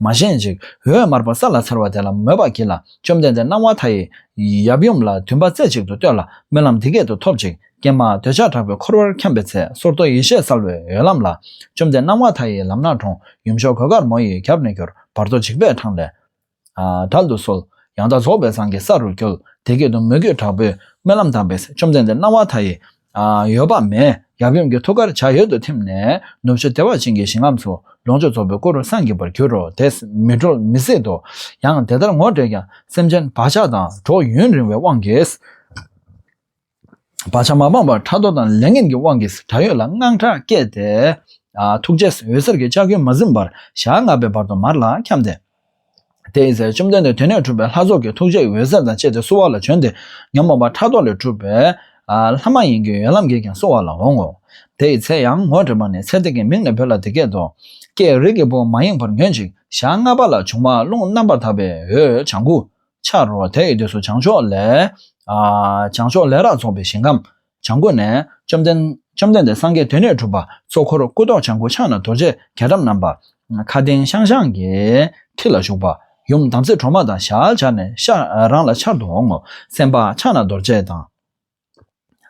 མ་ཞེན་ཅིག། འོད་དམར་པོ་ས་ལ་འཚེར་བ་དེ་ལ་མོས་པར་གྱིས་ལ་བཅོམ་ལྡན་འདས་སྣང་བ་མཐའ་ཡས། ཡབ་ཡུམ་ལ་དུས་འབའ་རྩེ་གཅིག་ཏུ་བསྟོད་ལ་སྨོན་ལམ་འདི་སྐད་དུ་ཐོབ་ཅིག་ཀྱེ་མ། འདོད་ཆགས་དྲག་པོས་འཁོར་བར་འཁྱམས་པའི་ཚེ་སོར་རྟོག་ཡེ་ཤེས་གསལ་བའི་འོད་ལམ་ལ། བཅོམ་ལྡན་སྣང་བ་མཐའ་ཡས་ལམ་ནག་གྲོང་ཡུམ་ཤོག་གོས་དཀར་མོ་ཡིས་རྒྱབ་ནས་གྱུར། བར་དོ་འཇིགས་པའི་འཕྲང་ལས། དལ་དུ་གསོལ། ཡང་དག་རྫོགས་པའི་ཚང་གི་ས་རུ་བསྐྱོལ། དེ་སྐད་དུ་མོས་གུས་དྲག་པོས་སྨོན་ལམ་དང་བས་བཅོམ་ལྡན་འདས་སྣང་བ་མཐའ་ཡས། ཡོལ་བ་མས་ཡབ་ཡུམ་གྱི་ཐུགས་ཀར་བྱ་ཡུལ་དུ་ཐིམ་ནས་ནུབ་ཕྱོགས་ལྟེ་བར་བྱིན་གྱིས་བྱིན་རླབས་སུ་ལོངས་སྤྱོད་རྫོགས་པའི་སྐུ་རུ་སངས་རྒྱས་པར་གྱུར་རོ་དེས་མི་གྲོལ་མི་ཟད་དོ། ཡང་དེ་ལྟར་ངོ་སྤྲད་ཀྱང་སེམས་ཅན་བག་ཆགས་དང་གྲོགས་ཡུན་རིང་བའི་དབང་གིས། བག་ཆགས་མ་སྤངས་པར་ཕྲག་དོག་དང་ལས་ངན་གྱི་དབང་གིས་ད་ཡོད་ལ་དངངས་སྐྲག་སྐྱེས་ཏེ། ཐུགས་རྗེས་འོད་ཟེར་གྱི་ལྕགས་ཀྱུས་མ་ཟིན་པར་ཞག་ལྔ་པའི་བར་དུ་མར་ལ་འཁྱམས་ཏེ། དེའི་ཚེ་བཅོམ་ལྡན་འདས་དེ་ནས་གྲུབ་པའི་ལྷ་ཚོགས་ཀྱི་ཐུགས་རྗེའི་འོད་ཟེར་དང་བཅས་ཏེ་གསོལ་བ་ལ་བྱོན་ཏེ། ཉོན་མོངས་པ་ཕྲག་དོག་ལས་གྲུབ་པའི། ལྷ་མ་ཡིན་གྱི་ཡོན་ལམ་གྱིས་ཀྱང་གསོལ་བ་ལ་འོང་ངོ། དེའི་ཚེ་ཡང་ངོ་སྤྲད་པ་ནས་ཚེ་འདས་ཀྱི་མིང་ནས་བོས་ལ་འདི་སྐད་དུ། ཀྱེ་རིགས་ཀྱི་བུ་མ་ཡེངས་པར་ཉོན་ཅིག་ཞག་ལྔ་པ་ལ་འབྱུང་བ་རླུང་རྣམ་པར་དག་པའི་འོད་བྱང་ཀུན། འཆར་རོ། དེ་ཡི་དུས་སུ་བྱང་ཕྱོགས་ལས། བྱང་ཕྱོགས་ལས་རག་ཚོགས་པའི་ཞིང་ཁམས། བྱང་སྒོ་ནས། བཅོམ་ལྡན་འདས་སངས་རྒྱས་དེ་ནས་གྲུབ་པ། གཙོ་འཁོར་སྐུ་མདོག་བྱང་སྒོ་ཕྱག་ན་རྡོ་རྗེ་རྒྱ་གྲམ་བསྣམས་པ། མཁའ་ལྡིང་ཤང་ཤང་གི། ཁྲི་ལ་བཞུགས་པ། ཡུམ་དམ་ཚིག་གྲོག་མ་དང་ཞལ་སྦྱར་ནས། རང་ལ་འཆར་དུ་འོང་ངོ། སེམས་དཔའ་ཕྱག་ན་རྡོ་རྗེ་དང།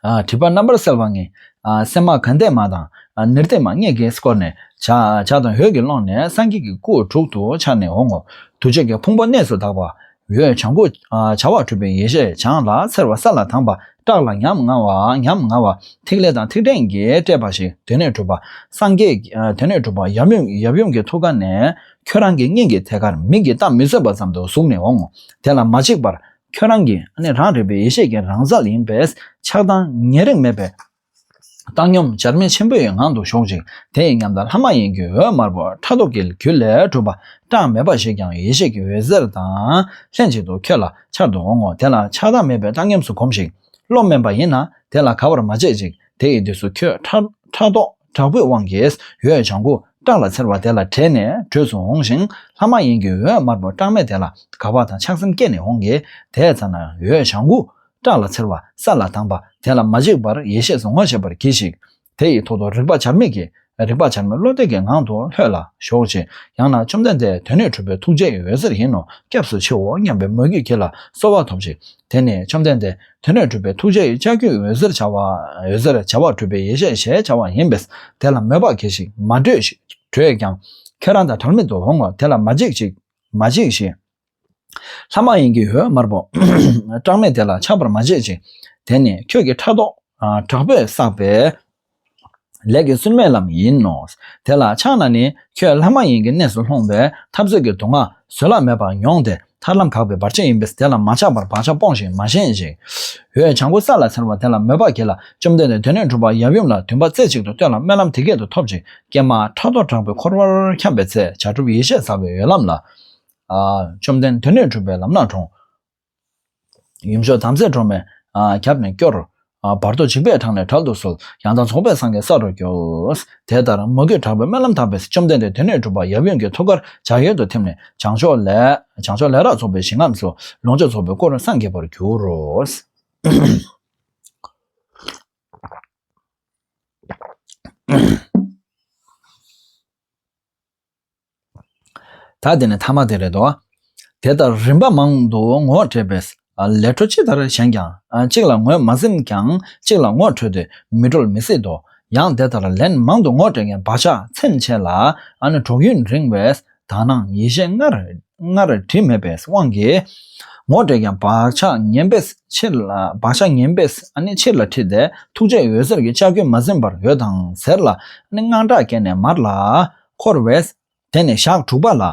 བྲིས་པ་རྣམ་པར་གསལ་བ་ངས་སེམས་མ་གང་འདས་མ་དང་ནི་རྟེན་མ་ལྔས་གེགས་བསྐོར་ནས། བྱ་དང་ཧོས་ཀྱི་ཀློང་ནས་སངས་རྒྱས་ཀྱི་སྐུ་དྲུག་ཏུ་འཆར་ནས་འོང་ངོ། དུར་ཁྲོད་ཀྱི་ཕུང་པོ་གནས་སུ་དག་པ། འོད་བྱང་ཁུ། བྱ་བ་གྲུབ་པའི་ཡེ་ཤེས་བྱང་ལ་འཚེར་བ་ས་ལ་དྭངས་པ་བཀྲག་ལ་ཉམ་ང་བ་ཉམ་ང་བ། ཐིག་ལེ་དང་ཐིག་ཕྲེང་གིས་སྤྲས་པ་ཞིག་དོན་གནས་གྲུབ་པ། སངས་རྒྱས་དོན་གནས་གྲུབ་པ་ཡབ་ཡུམ་གྱི་ཐུགས་ཀ་ནས་ཁྱོད་རང་གི་སྙིང་གི་ཐད་ཀར་མིག་གིས་བལྟ་མི་བཟོད་པ་ཙམ་དུ་ཟུག་ནས་འོང་ངོ། དེ་ལ་མ་འཇིགས་པར་ཁྱོད་རང་གི་ནི་རང་རིག་པའི་ཡེ་ཤེས་ཀྱི་རང་ཟག་ཡིན་པས་ཆགས་སྡང་ཉེ་རིང་མེད་པའི། བཏང་སྙོམས་བྱར་མེད་ཆེན་པོའི་ངང་དུ་ཞོག་ཅིག་དེ་ཡི་ཉམས་དང་ལྷ་མ་ཡིན་གྱི་འོད་དམར་པོ་ཕྲག་དོག་གི་གུར་ལས་གྲུབ་པ་གྲངས་མེད་པ་ཞིག་ཀྱང་ཡེ་ཤེས་ཀྱི་འོད་ཟེར་དང་ལྷན་ཅིག་ཏུ་ཁྱོད་ལ་འཆར་དུ་འོང་ངོ་དེ་ལ་ཆགས་སྡང་མེད་པའི་བཏང་སྙོམས་སུ་གོམས་ཤིག། བློ་དམན་པ་ཡིན་ན་དེ་ལ་ག་བར་མ་བྱེད་ཅིག་དེ་ཡི་དུས་སུ་ཁྱོད་ཕྲག་དོག། དྲག་པོའི་དབང་གིས་ཡོས་བྱང་ཁུ་སྐྲག་ལ་འཚེར་བ་དེ་ལ་དྲེད་ནས་བྲོས་སུ་འོང་ཞིང་ལྷ་མ་ཡིན་གྱི་འོད་དམར་པོ་སྐྲག་མེད་དེ་ལ་དགའ་བ་དང་ཆགས་སེམས་སྐྱེས་ནས་འོང་གི་དེས་ཚར་ན་ཡོས་བྱང་ཁུ་སྐྲག་ལ་འཚེར་བ་ས་ལ་དྭངས་པ་དེ་ལ་མ་འཇིགས་པར་ཡེ་ཤེས་སུ་ངོ་ཤེས་པར་གྱིས་ཤིག། དེ་ཡི་ཐོག་ཏུ་རིག་པ་བྱར་མེད་ཀྱིས་རིག་པ་བྱར་མེད་བློ་གཏད་ཀྱི་ངང་དུ་ལྷོད་ལ་ཞོག་ཅིག་ཡང་ན་བཅོམ་ལྡན་འདས་དོན་ནི་གྲུབ་པའི་ཐུགས་རྗེའི་འོད་ཟེར་ཡིན་ནོ་སྐྱབས་སུ་མཆིའོ་སྙམ་པའི་མོས་གུས་བགྱིས་ལ་གསོལ་བ་ཐོབ་ཅིག་དེ་ནས་བཅོམ་ལྡན་འདས། དེ་ནས་གྲུབ་པའི་ཐུགས་རྗེ་ཡི་ལྕགས་ཀྱུས་འོད་ཟེར་བྱ་བ། འོད་ཟེར་བྱ་བ་གྲུབ་པའི་ཡེ་ཤེས་ཞེས་བྱ་བ་ཡིན་པས་དེ་ལ་མོས་པར་གྱིས་ཤིག་མ་བགྲོས་ཤིག་བགྲོས་ཀྱང། ཁྱེད་རང་དང་བྲལ་མེད་དུ་འོང་ངོ་དེ་ལ་མ་འཇིགས་ཤིག་མ་འཇིགས་ཤིག། ལྷ་མ་ཡིན་གྱི་ཡོལ་དམར་པོ། སྐྲག་མེད་དེ་ལ་ཆགས་པར་མ་བྱེད་ཅིག། དེ་ནི་ཁྱོད་ཀྱི་ཕྲག་དོག་དྲག་པོས་བསགས་པའི། ལས་ཀྱི་སྲུན་མའི་ལམ་ཡིན་ནོ། དེ་ལ་ཕྱག་ན་ནི་ཁྱོད་ལྷ་མ་ཡིན་གྱི་གནས་སུ་ལྷུང་བས་འཐབ་རྩོད་ཀྱི་དུག་ལྔ་བཟོད་གླགས་མེད་པར་མྱོང་སྟེ་ཐར་ལམ་གགས་པའི་བར་ཆད་ཡིན་པས་དེ་ལ་མ་ཆགས་པར་བག་ཆགས་སྤོངས་ཤིང་མ་ཞེན་ཅིག། འོད་བྱང་ཀུ་ས་ལ་ཟེར་བ་དེ་ལ་མོས་པ་གྱིས་ལ་བཅོམ་ལྡན་འདས་དོན་སྣོད་དྲུག་པ་ཡབ་ཡུམ་ལ་དུས་འབའ་རྩེ་གཅིག་ཏུ་བསྟོད་ལ་སྨོན་ལམ་དེ་སྐད་དུ་ཐོབ་ཅིག་ཀྱེ་མ་ཕྲག་དོག་དྲག་པོས་འཁོར་བར་འཁྱམས་པའི་ཚེ་བྱ་གྲུབ་ཡེ་ཤེས་ཟག་པའི་འོད་ལམ་ལ། བཅོམ་ལྡན་དོན་སྣོད་དྲུག་པའི་ལམ་སྣ་དྲོངས། ཡུམ་མཆོག་དམ་རྫས་སྒྲོལ་མས་རྒྱབ་ནས་བསྐྱོར། བར་དོ་འཇིགས་པའི་དྲག་ནས་དྲག་ཏུ་གསོལ། ཡང་དག་ཚོགས་པའི་སངས་རྒྱས་ས་རུ་སྐྱོལ། དེ་ལྟར་མོས་གུས་དྲག་པོས་སྨོན་ལམ་དག་པས་བཅོམ་ལྡན་འདས་དོན་གནས་གྲུབ་པ་ཡབ་ཡུམ་གྱི་ཐུགས་ཀར་ལྗགས་གཡོན་དུ་ཐིམ་ནས་བྱང་ཕྱོགས་ལས། ལས་རགས་ཚོགས་པའི་ཞིང་ཁམས་སུ། ལོངས་སྤྱོད་ཚོགས་པའི་སྐུར་སངས་རྒྱས་པར་གྱུར་རོ། ད་དེ་ནི་ཐ་མ་དེ་རེད་དོ། དེ་ལྟར་རིམ་པ་མང་དུ་ངོ་སྤྲད་པས་ལས་འཕྲོ་ཅི་ལྟར་བཞེངས་ཀྱང་གཅིག་ལ་ངོས་མ་ཟིན་ཀྱང་གཅིག་ལ་ངོ་འཕྲོད་དེ་མི་གྲོལ་མི་སྲིད་དོ། ཡང་དེ་ལྟར་ལན་མང་དུ་ངོ་སྤྲད་མཁན་བག་ཆགས་ཚིམ་ཆེ་ལ་གྲོགས་ཡུན་རིང་བས་དག་སྣང་ཡེ་ཤེས་སྔར་བྲིས་མེད་པའི་དབང་གིས། ངོ་སྤྲད་མཁན་བག་ཆགས་ངན་པས་ཕྱིར་ལ་ཁྲིད་དེ་ཐུགས་རྗེ་འོད་ཟེར་གྱི་ལྕགས་ཀྱུས་མ་ཟིན་པར་ཡོད་དང་ཟེར་ལ་དངངས་སྐྲག་སྐྱེས་ནས་མར་ལ་འཁོར་བས། དེ་ནས་ཞག་དྲུག་པ་ལ།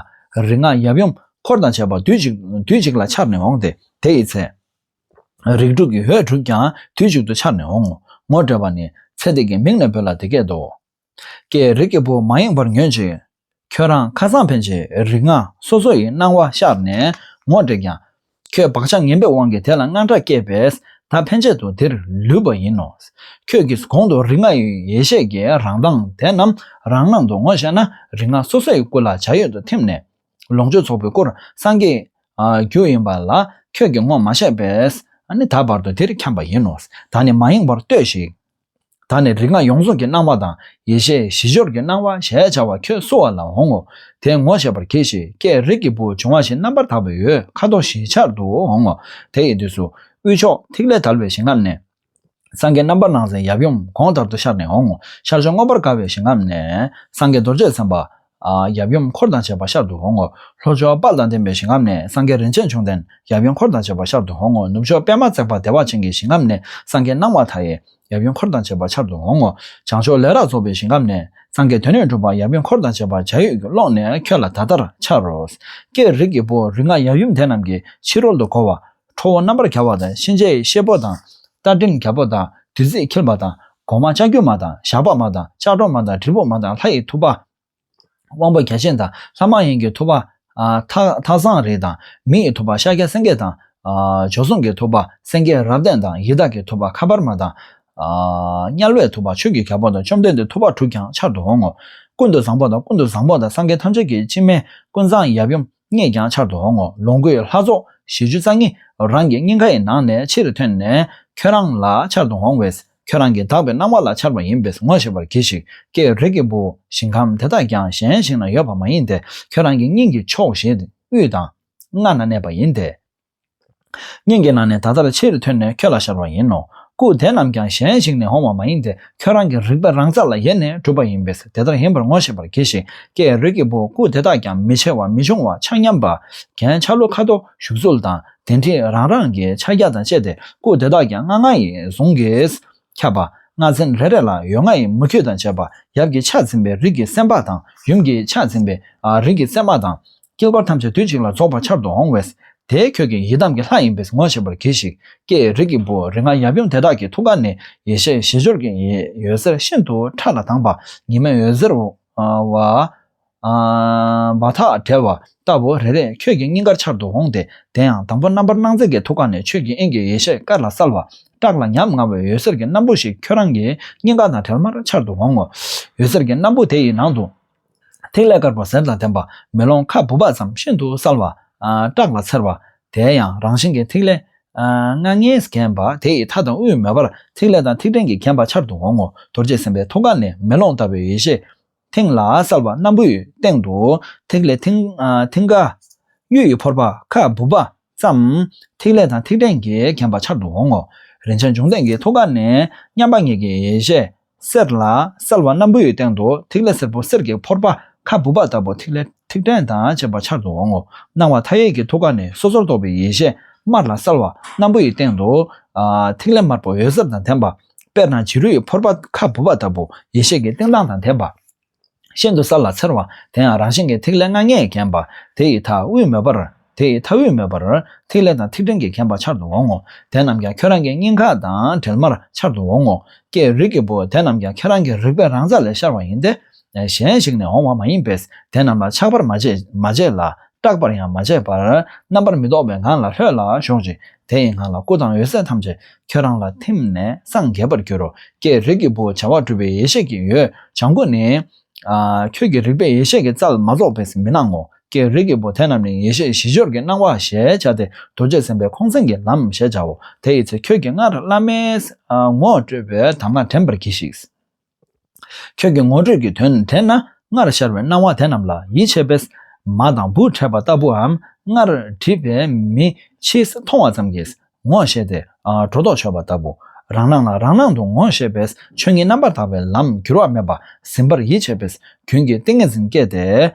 རིག་སྔགས་ཡབ་ཡུམ་འཁོར་དང་བཅས་པ་དུས་གཅིག་དུས་གཅིག་ལ་འཆར་ནས་འོང་སྟེ་དེ་ཡི་ཚེ། རིགས་དྲུག་གི་འོད་དྲུག་ཀྱང་དུས་གཅིག་ཏུ་འཆར་ནས་འོང་ངོ། ངོ་སྤྲད་པ་ནི། ཚེ་འདས་ཀྱི་མིང་ནས་བོས་ལ་དེ་སྐད་དོ། ཀྱེ་རིགས་ཀྱི་བུ་མ་ཡེངས་པར་ཉོན་ཅིག། ཁྱོད་རང་ཁ་སང་ཕན་ཆད་རིག་སྔགས་སོ་སོ་ཡི་སྣང་བ་ཤར་ནས་ངོ་སྤྲད་ཀྱང། ཁྱོད་བག་ཆགས་ངན་པའི་དབང་གིས་དེ་ལ་དངངས་སྐྲག་སྐྱེས་པས་ད་ཕན་ཆད་དུ་དེར་ལུས་པ་ཡིན་ནོ། ཁྱོད་ཀྱིས་གོང་དུ་རིག་སྔགས་ཡེ་ཤེས་ཀྱི་རང་མདངས་དེ་རྣམས་རང་སྣང་དུ་ངོ་ཤེས་ན་རིག་སྔགས་སོ་སོའི་སྐུ་ལ་བྱ་ཡུལ་དུ་ཐིམ་ནས། ལོངས་སྤྱོད་ཚོགས་པའི་སྐུར་སངས་རྒྱས། རྒྱུ་ཡིན་པ་ལ་ཁྱོད་ཀྱིས་ངོ་མ་ཤེས་པས་ནི་ད་བར་དུ་དེར་འཁྱམས་པ་ཡིན་ནོ། ད་ནི་མ་ཡེངས་པར་ལྟོས་ཤིག། ད་ནི་རིགས་ལྔ་ཡོངས་རྫོགས་ཀྱི་སྣང་བ་དང་ཡེ་ཤེས་བཞི་སྦྱོར་གྱི་སྣང་བ་ཞེས་བྱ་བ་ཁྱོད་གསོལ་བ་ལ་འོང་ངོ། དེས་ངོ་ཤེས་པར་གྱིས་ཤིག་ཀྱེ་རིགས་ཀྱི་བུ་འབྱུང་བ་བཞི་རྣམ་པར་དག་པའི་ཡུལ་ཁ་དོག་བཞི་ཆར་དུ་འོང་ངོ། དེ་ཡི་དུས་སུ། དབུས་ཕྱོགས་ཐིག་ལེ་དར་བའི་ཞིང་ཁམས་ནས། སངས་རྒྱས་རྣམ་པར་སྣང་མཛད་ཡབ་ཡུམ་གོང་ལྟར་དུ་ཤར་ནས་འོང་ངོ། ཤར་ཕྱོགས་མངོན་པར་དགའ་བའི་ཞིང་ཁམས་ནས། སངས་རྒྱས་རྡོ་རྗེ་སེམས་དཔའ། ཡབ་ཡུམ་འཁོར་དང་བཅས་པ་ཤར་དུ་འོང་ངོ། ལྷོ་ཕྱོགས་དཔག་དང་ལྡན་པའི་ཞིང་ཁམས་ནས་སངས་རྒྱས་རིན་ཆེན་འབྱུང་ལྡན། ཡབ་ཡུམ་འཁོར་དང་བཅས་པ་ཤར་དུ་འོང་ངོ། ནུབ་ཕྱོགས་པད་མ་བརྩེགས་པ་བདེ་བ་ཅན་གྱི་ཞིང་ཁམས་ནས་སངས་རྒྱས་སྣང་བ་མཐའ་ཡས། ཡབ་ཡུམ་འཁོར་དང་བཅས་པ་ཤར་དུ་འོང་ངོ། བྱང་ཕྱོགས་ལས་རགས་རྫོགས་པའི་ཞིང་ཁམས་ནས་སངས་རྒྱས་དོན་གནས་གྲུབ་པ་ཡབ་ཡུམ་འཁོར་དང་བཅས་པ་འཇའ་ཡོས་ཀྱི་ཀློང་ནས་ཁྱོད་ལ་ད་ལྟར་འཆར་རོ། ཀྱེ་རིགས་ཀྱི་བུ་རིགས་ལྔ་ཡབ་ཡུམ་དེ་རྣམས་ཀྱི་ཕྱི་རོལ་དུ་འཁོར་བ། ཁྲོ་བོ་རྣམ་པར་བྱ་བ་དང་གཤིན་རྗེ་ཡི་གཤེད་པོ་དང། རྟ་མགྲིན་གྱ་བོ་དང་བདུད་རྩི་འཁྱིལ་པ་དང། གོང་མ་ལྕགས་ཀྱུ་མ་དང་ཞགས་པ་མ་དང་ལྕགས་སྒྲོག་མ་དང་དྲིལ་བུ་མ་དང་ལྷ་ཡི་ཐུབ་པ། དབང་པོ་བརྒྱ་བྱིན་དང་ལྷ་མ་ཡིན་གྱི་ཐུབ་པ། ཐགས་བཟངས་རིགས་དང་མི་ཡི་ཐུབ་པ་ཤཱཀྱ་སེང་གེ་དང། བྱོལ་སོང་གི་ཐུབ་པ་སེང་གེ་རབ་བརྟན་དང་ཡི་དྭགས་ཀྱི་ཐུབ་པ་ཁ་པར་མ་དང། དམྱལ་བའི་ཐུབ་པ་ཆོས་ཀྱི་གྱ་བོ་དང་བཅོམ་ལྡན་འདས་ཐུབ་པ་དྲུག་ཀྱང་འཆར་དུ་འོང་ངོ། ཀུན་ཏུ་བཟང་པོ་དང་ཀུན་ཏུ་བཟང་པོ་དང་སངས་རྒྱས་ཐམས་ཅད་ཀྱི་སྤྱི་སྨན་ཀུན་བཟང་ཡབ་ཡུམ་སྙེད་ཀྱང་ཆར་དུ་འོང་ངོ་ལོངས་སྐུའི་ལྷ་ཚོགས་བཞི་བཅུ་རྩ་གཉིས་རང་གི་སྙིང་གའི་ནང་ནས་ཕྱིར་ཐོན་ནས་ཁྱོད་རང་ལ་ཆར་དུ་འོང་བས་ཁྱོད་རང་གི་དག་པའི་སྣང་བ་ལ་ཆར་བ་ཡིན་པས་ངོ་ཤེས་པར་གྱིས་ཤིག་ཀྱེ་རིགས་ཀྱི་བུ་ཞིང་ཁམས་དེ་དག་ཀྱང་གཞན་ཞིག་ན་ཡོད་པ་མ་ཡིན་ཏེ་ཁྱོད་རང་གི་སྙིང་གི་ཕྱོགས་བཞིའི་དབུས་དང། ལྔ་ན་གནས་པ་ཡིན་ཏེ། སྙིང་གི་ནང་ནས་ད་ལྟར་ཕྱིར་ཐོན་ནས་ཁྱོད་ལ་ཞབས་རོགས་ཡིན་ནོ། སྐུ་དེ་རྣམས་ཀྱང་གཞན་ཞིག་ནས་འོང་བ་མ་ཡིན་ཏེ་ཁྱོད་རང་གི་རིག་པ་རང་ས་ལ་ཡེ་ནས་གྲུབ་པ་ཡིན་པས་དེ་ལྟར་ཡིན་པར་ངོ་ཤེས་པར་གྱིས་ཤིག་ཀྱེ་རིགས་ཀྱི་བུ་སྐུ་དེ་དག་ཀྱང་མི་ཆེ་བ་མི་ཆུང་བ་ཆ་མཉམ་པ། གན་ཆ་ལུ་ཁ་དོག་བཞུགས་ཚུལ་དང་དེ་འདྲིས་རང་རང་གི་ཕྱག་རྒྱ་དང་བཅས་ཏེ་སྐུ་དེ་དག་ཀྱང་ལྔ་ལྔ་ཡི་གཟུངས་ཀྱིས་ཁྱབ་པ། ལྔ་ཚན་རེ་རེ་ལ་ཡོལ་ལྔ་ཡི་མུ་ཁྱུད་དང་བཅས་པ་ཡབ་ཀྱི་ཕྱག་འཛིན་པའི་རིགས་ཀྱི་སེམས་དཔའ་དང་ཡུམ་གྱི་ཕྱག་འཛིན་པའི་རིགས་ཀྱི་སེམས་མ་དང། སྐྱེ་བ་ཐམས་ཅད་དུས་གཅིག་ལ་རྫོགས་པར་འཆར་དུ་འོང་བས། དེའི་ཁྱོད་ཀྱི་ཡི་དམ་གྱི་ལྷ་ཡིན་པས་ངོ་ཤེས་པར་གྱིས་ཤིག། ཀྱེ་ཡི་རིགས་ཀྱི་བུ་རིགས་ལྔ་ཡབ་ཡུམ་དེ་དག་གི་ཐུགས་ཀ་ནས་ཡེ་ཤེས་བཞི་སྦྱོར་གྱི་ཡོད་ཟེར་ཤིན་ཏུ་ཕྲ་ལ་དྭངས་པ་ཉི་མའི་འོད་ཟེར་བ། བ་ཐག་བྲལ་བ་ལྟ་བུ་རེ་རེས་ཁྱོད་ཀྱི་སྙིང་གར་འཆར་དུ་འོང་སྟེ་དེ་ཡང་དང་པོ་རྣམ་པར་སྣང་མཛད་ཀྱི་ཐུགས་ཀ་ནས་ཆོས་ཀྱི་དབྱིངས་ཀྱི་ཡེ་ཤེས་དཀར་ལ་གསལ་བ། བཀྲག་ལ་ཉམ་ང་བའི་འོད་ཟེར་གྱི་སྣམ་བུ་ཞིག་ཁྱོད་རང་གི་སྙིང་ག་དང་བྲལ་མར་འཆར་དུ་འོང་ངོ། འོད་ཟེར་གྱི་སྣམ་བུ་དེ་ཡི་ནང་དུ། ཐིག་ལེ་དཀར་པོ་གཟེར་དང་ལྡན་པ། མེ་ལོང་ཁ་སྦུབས་བག་ཙམ་ཤིན་ཏུ་གསལ་བ། བཀྲག་ལ་འཚེར་བ། དེའི་ཡང་རང་བཞིན་གྱི་ཐིག་ལེ། སྔགས་ལྔས་བརྒྱན་པ་དེ་ཡི་མཐའ་དང་དབུས་མེ་འབར་ཐིག་ལེ་དང་ཐིག་ཕྲན་གྱིས་བརྒྱན་པ་འཆར་དུ་འོང་ངོ། རྡོ་རྗེ་སེམས་དཔའི་ཐུགས་ཀ་ནས་མེ་ལོང་ལྟ་བུའི་ཡེ་ཤེས། མཐིང་ལ་གསལ་བ་སྣམ་བུའི་སྟེང་དུ། ཐིག་ལེ་མཐིང་ག། གཡུ་ཡི་ཕོར་པ་ཁ་སྦུབས་པ། ཙམ། ཐིག་ལེ་དང་ཐིག་ཕྲན་གྱིས་ཁེངས་པ་འཆར་དུ་འོང་ངོ། རིན་ཆེན་འབྱུང་ལྡན་གྱི་ཐུགས་ཀ་ནས་མཉམ་པ་ངེད་ཀྱི་ཡེ་ཤེས། གསལ་ལ། གསལ་བ་སྣམ་བུའི་སྟེང་དུ་ཐིག་ལེ་སེར་པོ་གསེར་གྱི་ཕོར་པ་ཁ་སྦུབ་པ་ལྟ་བུ་ཐིག་ལེ་ཐིག་ཕྲན་དང་བཅས་པ་འཆར་དུ་འོང་ངོ། སྣང་བ་མཐའ་ཡས་ཀྱི་ཐུགས་ཀ་ནས་སོ་སོར་རྟོག་པའི་ཡེ་ཤེས་དམར་ལ་གསལ་བ་སྣམ་བུའི་སྟེང་དུ། ཐིག་ལེ་དམར་པོ་འོད་ཟེར་དང་ལྡན་པ། དཔེར་ན་བྱི་རུའི་ཕོར་པ་ཁ་སྦུབ་པ་ལྟ་བུ་ཡེ་ཤེས་ཀྱི་སྟེང་མདངས་དང་ལྡན་པ། ཤིན་ཏུ་ས་ལ་འཚེར་བ་དེ་ཡང་རང་བཞིན་གྱི་ཐིག་ལེ་ལྔ་ལྔས་བརྒྱན་པ། དེ་ཡི་མཐའ་དབུས་མོས་པར། དེ་ཡི་མཐའ་དབུས་མོས་པར། ཐིག་ལེ་དང་ཐིག་ཕྲན་གྱིས་བརྒྱན་པ་འཆར་དུ་འོང་ངོ། དེ་རྣམས་ཀྱང་ཁྱོད་རང་གི་སྙིང་ཁ་དང་འབྲེལ་མར་འཆར་དུ་འོང་ངོ། ཀྱེ་རིགས་ཀྱི་བུ་དེ་རྣམས་ཀྱང་ཁྱེད་རང་གི་རིག་པའི་རང་རྩལ་ལས་ཤར་བ་ཡིན་ཏེ། གཞན་ཞིག་ནས་འོང་བ་མ་ཡིན་པས་དེ་རྣམས་ལ་ཆགས་པར་མ་བྱེད་ལ། སྐྲག་པར་ཡང་མ་བྱེད་པར། རྣམ་པར་མི་རྟོག་པའི་ངང་ལ་ལྷོད་ལ་ཞོག་ཅིག། དེ་ཡི་ངང་ལ་སྐུ་དང་འོད་གསལ་ཐམས་ཅད་ཁྱོད་རང་ལ་ཐིམ་ནས་སངས་རྒྱས་པར་འགྱུར་རོ། ཀྱེ་རིགས་ཀྱི་བུ་བྱ་བ་གྲུབ་པའི་ཡེ་ཤེས་ཀྱི་ཡོད་བྱང་ཀུན་ནས། ཁྱོད་ཀྱི་རིག་པའི་ཡེ་ཤེས་ཀྱི་རྩ་ལ་མ་རྫོགས་པས་མི་སྣང་ངོ། ཀྱེ་རིགས་ཀྱི་བུ་དེ་རྣམས་ནི་ཡེ་ཤེས་བཞི་སྦྱོར་གྱི་སྣང་བ་ཞེས་བྱ་སྟེ་རྡོ་རྗེ་སེམས་དཔའི་ཁོང་སེང་གི་ལམ་ཞེས་བྱའོ། དེ་ཡི་ཚེ་ཁྱོད་ཀྱིས་སྔར་བླ་མའི་ངོ་སྤྲོད་པའི་དམ་ངག་དྲན་པར་གྱིས་ཤིག། ཁྱོད་ཀྱི་ངོ་སྤྲོད་ཀྱི་དོན་དེ་ན་སྔར་ཤར་བའི་སྣང་བ་དེ་རྣམས་ལ་ཡིད་ཆེས་པས། མ་དང་བུ་འཕྲད་པ་ལྟ་བུའམ་སྔར་བྲིས་པའི་མི་ཕྱིས་མཐོང་བ་ཙམ་གྱིས་ངོ་ཤེས་ཏེ། སྒྲོ་འདོགས་ཆོད་པ་ལྟ་བུ། རང་སྣང་ལ་རང་སྣང་དུ་ངོ་ཤེས་པས་ཆོས་ཉིད་རྣམ་པར་དག་པའི་ལམ་འགྱུར་བ་མེད་པ་ཟིན་པར་ཡིད་ཆེས་པས་རྒྱུན་གྱི་ཏིང་ངེ་འཛིན་སྐྱེ་སྟེ།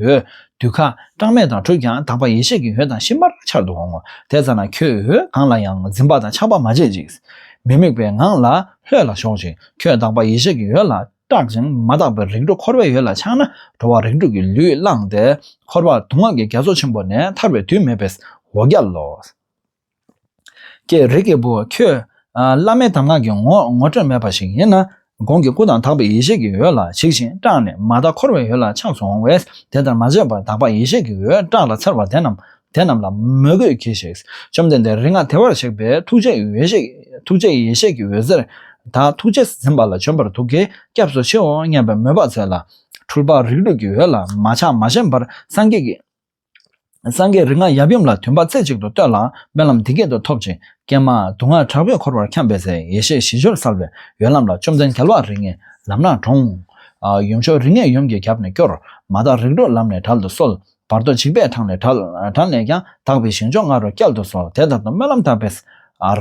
འོད་དུ་ཁ་སྐྲངས་མེ་དང་དྲོད་ཀྱང་དག་པ་ཡེ་ཤེས་ཀྱི་འོད་དང་ཤིང་པར་འཆར་དུ་འོང་ངོ། དེ་ཙམ་ན་ཁྱོད་འོད་གང་ལ་ཡང་འཛིན་པ་དང་ཆགས་པ་མ་བྱེད་ཅིག། མི་དམིགས་པའི་ངང་ལ་ལྷོད་ལ་ཞོག་ཅིག་ཁྱོད་དག་པ་ཡེ་ཤེས་ཀྱི་འོད་ལ་སྐྲག་ཅིང་མ་དག་པའི་རིགས་དྲུག་འཁོར་བའི་ཡུལ་ལ་ཆགས་ན་འགྲོ་བ་རིགས་དྲུག་གི་ལུས་བླངས་ཏེ་འཁོར་བར་དུ་སྔགས་ཀྱི་རྒྱ་མཚོ་ཆེན་པོ་ནས་ཐར་བའི་དུས་མེད་པས་འོ་བརྒྱལ་ལོ། ཀྱེ་རིགས་ཀྱི་བུ་ཁྱོད། བླ་མའི་གདམས་ངག་གི་ངོ་སྤྲོད་མེད་པ་ཞིག་ཡིན་ན། གོང་གི་སྐུ་དང་དག་པའི་ཡེ་ཤེས་ཀྱི་འོད་ལ་བྱིག་ཅིང་སྐྲག་ནས་མ་དག་འཁོར་བའི་ཡུལ་ལ་ཆགས་སུ་འོང་བས་དེ་ལྟར་མ་བྱེད་པར་དག་པ་ཡེ་ཤེས་ཀྱི་འོད་བཀྲག་ལ་འཚེར་བ་དེ་རྣམས་དེ་རྣམས་ལ་མོས་གུས་གྱིས་ཤིག། བཅོམ་ལྡན་འདས་རིག་སྔགས་དེ་བར་གཤེགས་པས་ཐུགས་རྗེ་ཡི་འོད་ཤེས་ཐུགས་རྗེ་ཡི་ཡེ་ཤེས་ཀྱི་འོད་ཟེར་དག་ཐུགས་རྗེས་ཟིན་པ་ལ་བྱོན་པར་ཐུགས་ཀྱིས་སྐྱབས་སུ་མཆིའོ་སྙམ་པའི་མོས་པ་མཛོད་ལ། འཁྲུལ་པ་རིགས་དྲུག་གི་འོད་ལ་མ་ཆགས་མ་ཞེན་པར་སངས་རྒྱས་ཀྱི། སངས་རྒྱས་རིགས་ལྔ་ཡབ་ཡུམ་ལ་དུས་འབའ་རྩེ་གཅིག་ཏུ་བསྟོད་ལ་དཔོན་ལམ་འདི་སྐད་དུ་ཐོབ་ཅིག། ཀྱེ་མ། དུག་ལྔ་དྲག་པོས་འཁོར་བར་འཁྱམས་པའི་ཚེ་ཡེ་ཤེས་བཞི་སྦྱོར་གསལ་བའི་ཡོན་ལམ་ལ་བཅོམ་ལྡན་རྒྱལ་བ་རིགས་ལྔའི་ལམ་སྣ་དྲོངས། ཡུམ་མཆོག་རིགས་ལྔས་ཡུམ་གྱི་རྒྱབ་ནས་སྐྱོར། མ་དག་རིགས་དྲུག་ལམ་ནས་དགྲ་ལ་གསོལ། བར་དོ་འཇིགས་པའི་འཕྲང་ལས་དགྲ། དགྲ་ནས་ཀྱང་དག་པའི་ཞིང་མཆོག་ལྔ་རུ་བསྐྱལ་དུ་གསོལ་དེ་ལྟར་དུ་སྨོན་ལམ་བཏབ་པས།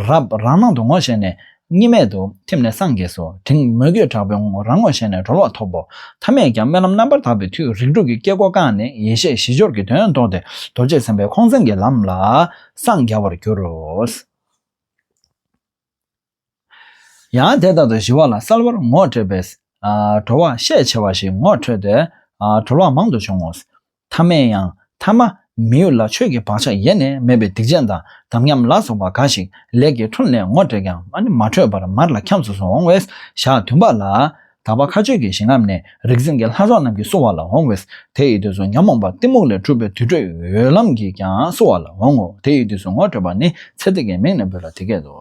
རབ་རང་སྣང་དུ་ངོ་ཤེས་ནས། གཉིས་མེད་དུ་ཐིམ་ནས་སངས་རྒྱས་སོ། དྲིན་མོས་གུས་དྲག་པོས་ངོ་རང་ངོ་ཤེས་ནས་གྲོལ་བ་ཐོབ་བོ། ཐ་མས་ཀྱང་རྨི་ལམ་རྣམ་པར་དག་པའི་མཐུས་རིགས་དྲུག་གི་སྐྱེ་སྒོ་བཀག་ནས་ཡེ་ཤེས་བཞི་སྦྱོར་གྱི་དོན་རྟོགས་ཏེ་རྡོ་རྗེ་སེམས་དཔའི་ཁོང་མཚན་གྱི་ལམ་ལ་སངས་རྒྱ་བར་འགྱུར་རོ། ཡང་དེ་ལྟར་དུ་ཞི་བ་ལ་གསལ་བར་ངོ་སྤྲད་པས། གྲོལ་བ་ཤས་ཆེ་བ་ཞིག་ངོ་འཕྲོད་དེ། གྲོལ་བ་མང་དུ་བྱུང་ངོ། ཐ་མས་ཡང་ཐ་མ་མི་ཡུལ་ལ་ཆོས་ཀྱི་བག་ཆགས་ཡེ་ནས་མེད་པའི་སྡིག་ཅན་དང་དམ་ཉམས་ལ་སོགས་པ་འགའ་ཞིག་ལས་ཀྱི་ཁྲོམ་ནས་ངོ་སྤྲད་ཀྱང་མ་འཕྲོད་པར་མར་ལ་འཁྱམས་སུ་སོང་འོང་བས་ཞག་བདུན་པ་ལ། དག་པ་མཁའ་སྤྱོད་ཀྱི་ཞིང་རྣམས་ནས་རིག་འཛིན་གྱི་ལྷ་ཚོགས་རྣམས་ཀྱིས་བསུ་བ་ལ་འོང་བས་དེ་ཡི་དུས་སུ་ཉོན་མོངས་པ་གཏི་མུག་ལས་གྲུབ་པའི་དུར་ཁྲོད་འོད་ལམ་གྱིས་ཀྱང་བསུ་བ་ལ་འོང་ངོ་དེ་ཡི་དུས་སུ་ངོ་སྤྲོད་པ་ནི་ཚེ་འདི་ཀའི་མིང་ནས་འབོད་ལ་དེ་སྐད་དུ།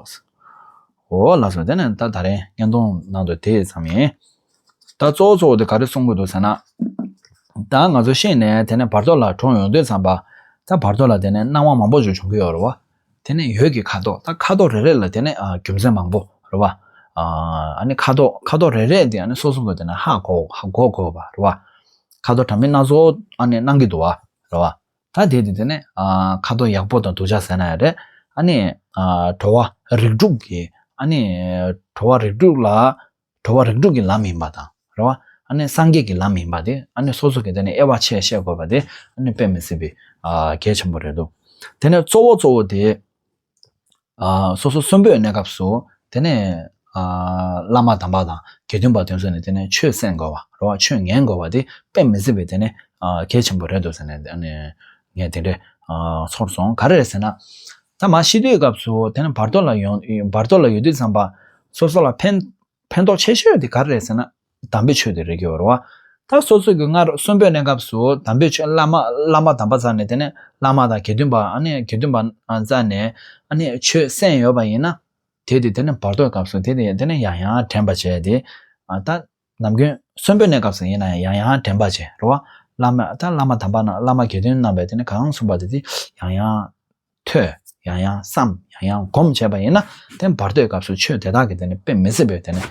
འོ་ལགས་སོ་དེ་ནས་ད་ད་རེས་བརྙན་ཐུང་ནང་དུ་དེ་ཙམ་ཡིན། ད་གཙོ་བོ་གཙོ་བོ་དེ་ག་རེ་གསུང་གི་འདུག་ཟེར་ན། ད་ང་ཚོ་ཤེས་ནས་དེ་ནས་བར་དོ་ལ་གྲོངས་ཡོང་དུས་ཙམ་པ། ད་བར་དོ་ལ་དེ་ནས་སྣང་བ་མང་པོ་ཅིག་བྱུང་གི་ཡོད་རེད་བ། དེ་ནས་ཡོད་ཀྱི་ཁ་དོག་ད་ཁ་དོག་རེ་རེ་ལ་དེ་ནས་རྒྱུ་མཚན་མང་པོ་རེད་བ། ཨ་ནི་ཁ་དོག་ཁ་དོག་རེ་རེ་དེ་སོ་སོ་ནས་དེ་ནས་ཧ་གོ་ཧ་གོ་དགོས་བ་རེད་བ། ཁ་དོག་དྲ་མིག་སྣ་ཚོགས་ཨ་ནི་སྣང་གི་འདུག་བ་རེད་བ། ད་དེ་དེ་དེ་ནས་ཁ་དོག་ཡག་པོ་དང་སྡུག་ཅག་ཟེར་ན་ཡང་རེད། ཨ་ནི། བྲོ་བ་རིགས་དྲུག་གི་ཨ་ནི་བྲོ་བ་རིགས་དྲུག་ལ་འགྲོ་བ་རིགས་དྲུག་གི་ལམ་ཡིན་པ་དང། རེ་བ། སངས་རྒྱས་ཀྱི་ལམ་ཡིན་པ་དེ། སོ་སོ་གི་དེ་ནས་དབྱེ་བ་ཕྱེས་བཤད་དགོས་པ་དེ། དཔེ་མི་སྲིད་པའི་གལ་ཆེན་པོ་རེད་དོ། དེ་ནས་གཙོ་བོ་གཙོ་བོ་དེ། སོ་སོ་གསོན་པོའི་གནས་སྐབས་སུ། དེ་ནས། བླ་མ་དམ་པ་དང་དགེ་འདུན་པ་དོན་གསོལ་ནས་དེ་ནས་ཆོས་གསན་དགོས་པ། རེ་བ་ཆོས་ཉན་དགོས་པ་དེ་དཔེ་མི་སྲིད་པའི་དེ་ནི་གལ་ཆེན་པོ་རེད་དོ་ཟེར་ནས། ངས་དེ་འདྲའི་ཚོར་སོང་ག་རེ་རེད་ཟེར་ན། ཚང་མ་ཤི་དུས་སྐབས་སུ་དེ་རྣམས་བར་དོ་ལ་ཡོང་བར་དོ་ལ་ཡོད་དུས་ཚངས་པ། སོ་སོ་ལ་ཕན། ཕན་ཐོགས་ཆེ་ཤོས་དེ་ག་རེ་རེད་ཟེར་ན། དམ་པའི་ཆོས་དེ་རེད་ཀྱི་རེད། ད་སོ་སོ་གྱི་སྔར་གསོན་པོའི་གནས་སྐབས་སུ་དམ་པའི་ཆོས་བླ་མ་བླ་མ་དམ་པ་བཙལ་ནས་དེ་ནས་བླ་མ་དང་དགེ་འདུན་པ་ཨ་ནི་དགེ་འདུན་པ་བཙལ་ནས་ཨ་ནི་ཆོས་གསན་ཡོད་པ་ཡིན་ན། དེ་དེ་དེ་ནས་བར་དོའི་སྐབས་སུ་དེ་དེ་དེ་ནས་ཡང་ཡང་དྲན་པ་བྱས་ཏེ། ད། ནམ་རྒྱུན་གསོན་པོའི་གནས་སྐབས་སུ་ཡིན་ན་ཡང་ཡང་དྲན་པར་བྱེད། རེ་བ། བླ་མས་ད་བླ་མ་དམ་པ་རྣམས་བླ་མ་དགེ་འདུན་རྣམ་པས་དེ་ནི་གང་གསུངས་པ་དེ་དེ་ཡང་ཡང་ཐོས། ཡང་ཡང་བསམ། ཡང་ཡང་སྒོམ་བྱས་པ་ཡིན་ན་དེ་བར་དོའི་སྐབས་སུ་ཆོས་དེ་དག་གིས་དེ་ནི་དཔེ་མི་སྲིད་པས་དེ་ནི་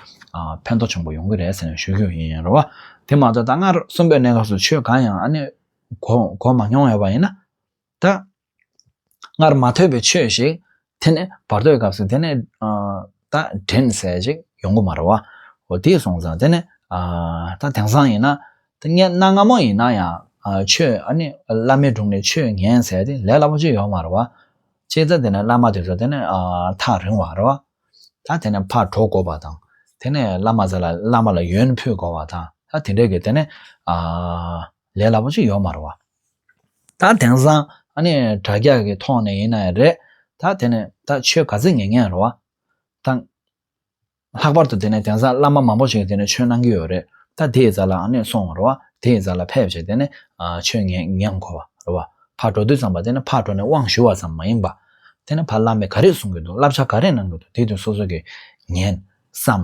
ཕན་ཐོགས་ཆེན་པོ་ཡོང་གི་རེད་ཟེར་ནས་ཞུ་རྒྱུ་ཡིན། རེ་བ། དེ་མ་ཐག་ད་སྔར་གསོན་པོའི་གནས་སྐབས་སུ་ཆོས་གང་ཡང་ཨ་ནི་གོ་མ་མྱོང་ཡོད་པ་ཡིན་ན། ད། སྔར་མ་ཐོས་པའི་ཆོས་ཤིག་དེ་ནི་བར་དོའི་སྐབས་སུ་དེ་ནི་ད་དྲན་གསལ་ཅིག་ཡོང་གི་མ་རེད་བ། འོ་དེས་སོང་ཙང་དེ་ནི་ད་དེང་སང་ཡིན་ན་ད་སྙན་སྣ་སྔ་མོ་ཡིན་ན་ཡང་ཆོས་ཨ་ནི་བླ་མའི་དྲུང་ནས་ཆོས་ཉན་ཟེར་ཏེ་ལས་སླ་པོ་ཅིག་ཡོང་གི་མ་རེད་བ། ཅེས་ཙང་དེ་ནི་བླ་མ་དེ་ཚོ་དེ་ནི་ཐག་རིང་བ་རེད་བ། ད་དེ་ནི་ཕར་གྲོ་གོ་བ་དང་དེ་ནི་བླ་མ་ཚོ་ལ་བླ་མ་ལ་ཡོན་ཕུལ་དགོས་བ་དང་ད་དེ་འདྲས་ཀྱི་དེ་ནི། ལས་སླ་པོ་ཅིག་ཡོད་མ་རེད་བ། ད་དེང་སང་ཨ་ནི་དྲ་རྒྱ་གི་ཐོག་ནས་ཡིན་ན་ཡང་རེད། ད་དེ་ནི་ད་ཆོས་ག་ཚོད་ངན་ངན་རེད་བ། ད་ལྷག་པར་དུ་དེ་ནི་དེང་སང་བླ་མ་མང་པོ་ཞིག་དེ་ནི་ཆོས་གནང་གི་ཡོད་རེད། ད་དེའི་རྩ་ལ་ཨ་ནི་སོང་བ་རེད་བ། དེའི་རྩ་ལ་ཕེབས་བྱས་དེ་ནི་ཆོས་ངན་ངན་དགོས་བ་རེད་བ། ཕར་འགྲོ་དུས་ཙམ་པ་དེ་ནི་ཕར་འགྲོ་ནས་དབང་ཞུ་བ་ཙམ་མ་ཡིན་པ། དེ་ནི་ཕར་བླ་མས་ག་རེ་གསུང་གི་འདུག་བསླབ་བྱ་ག་རེ་གནང་གི་འདུག་དེ་དུས་སོ་སོ་གིས་ཉན། བསམ།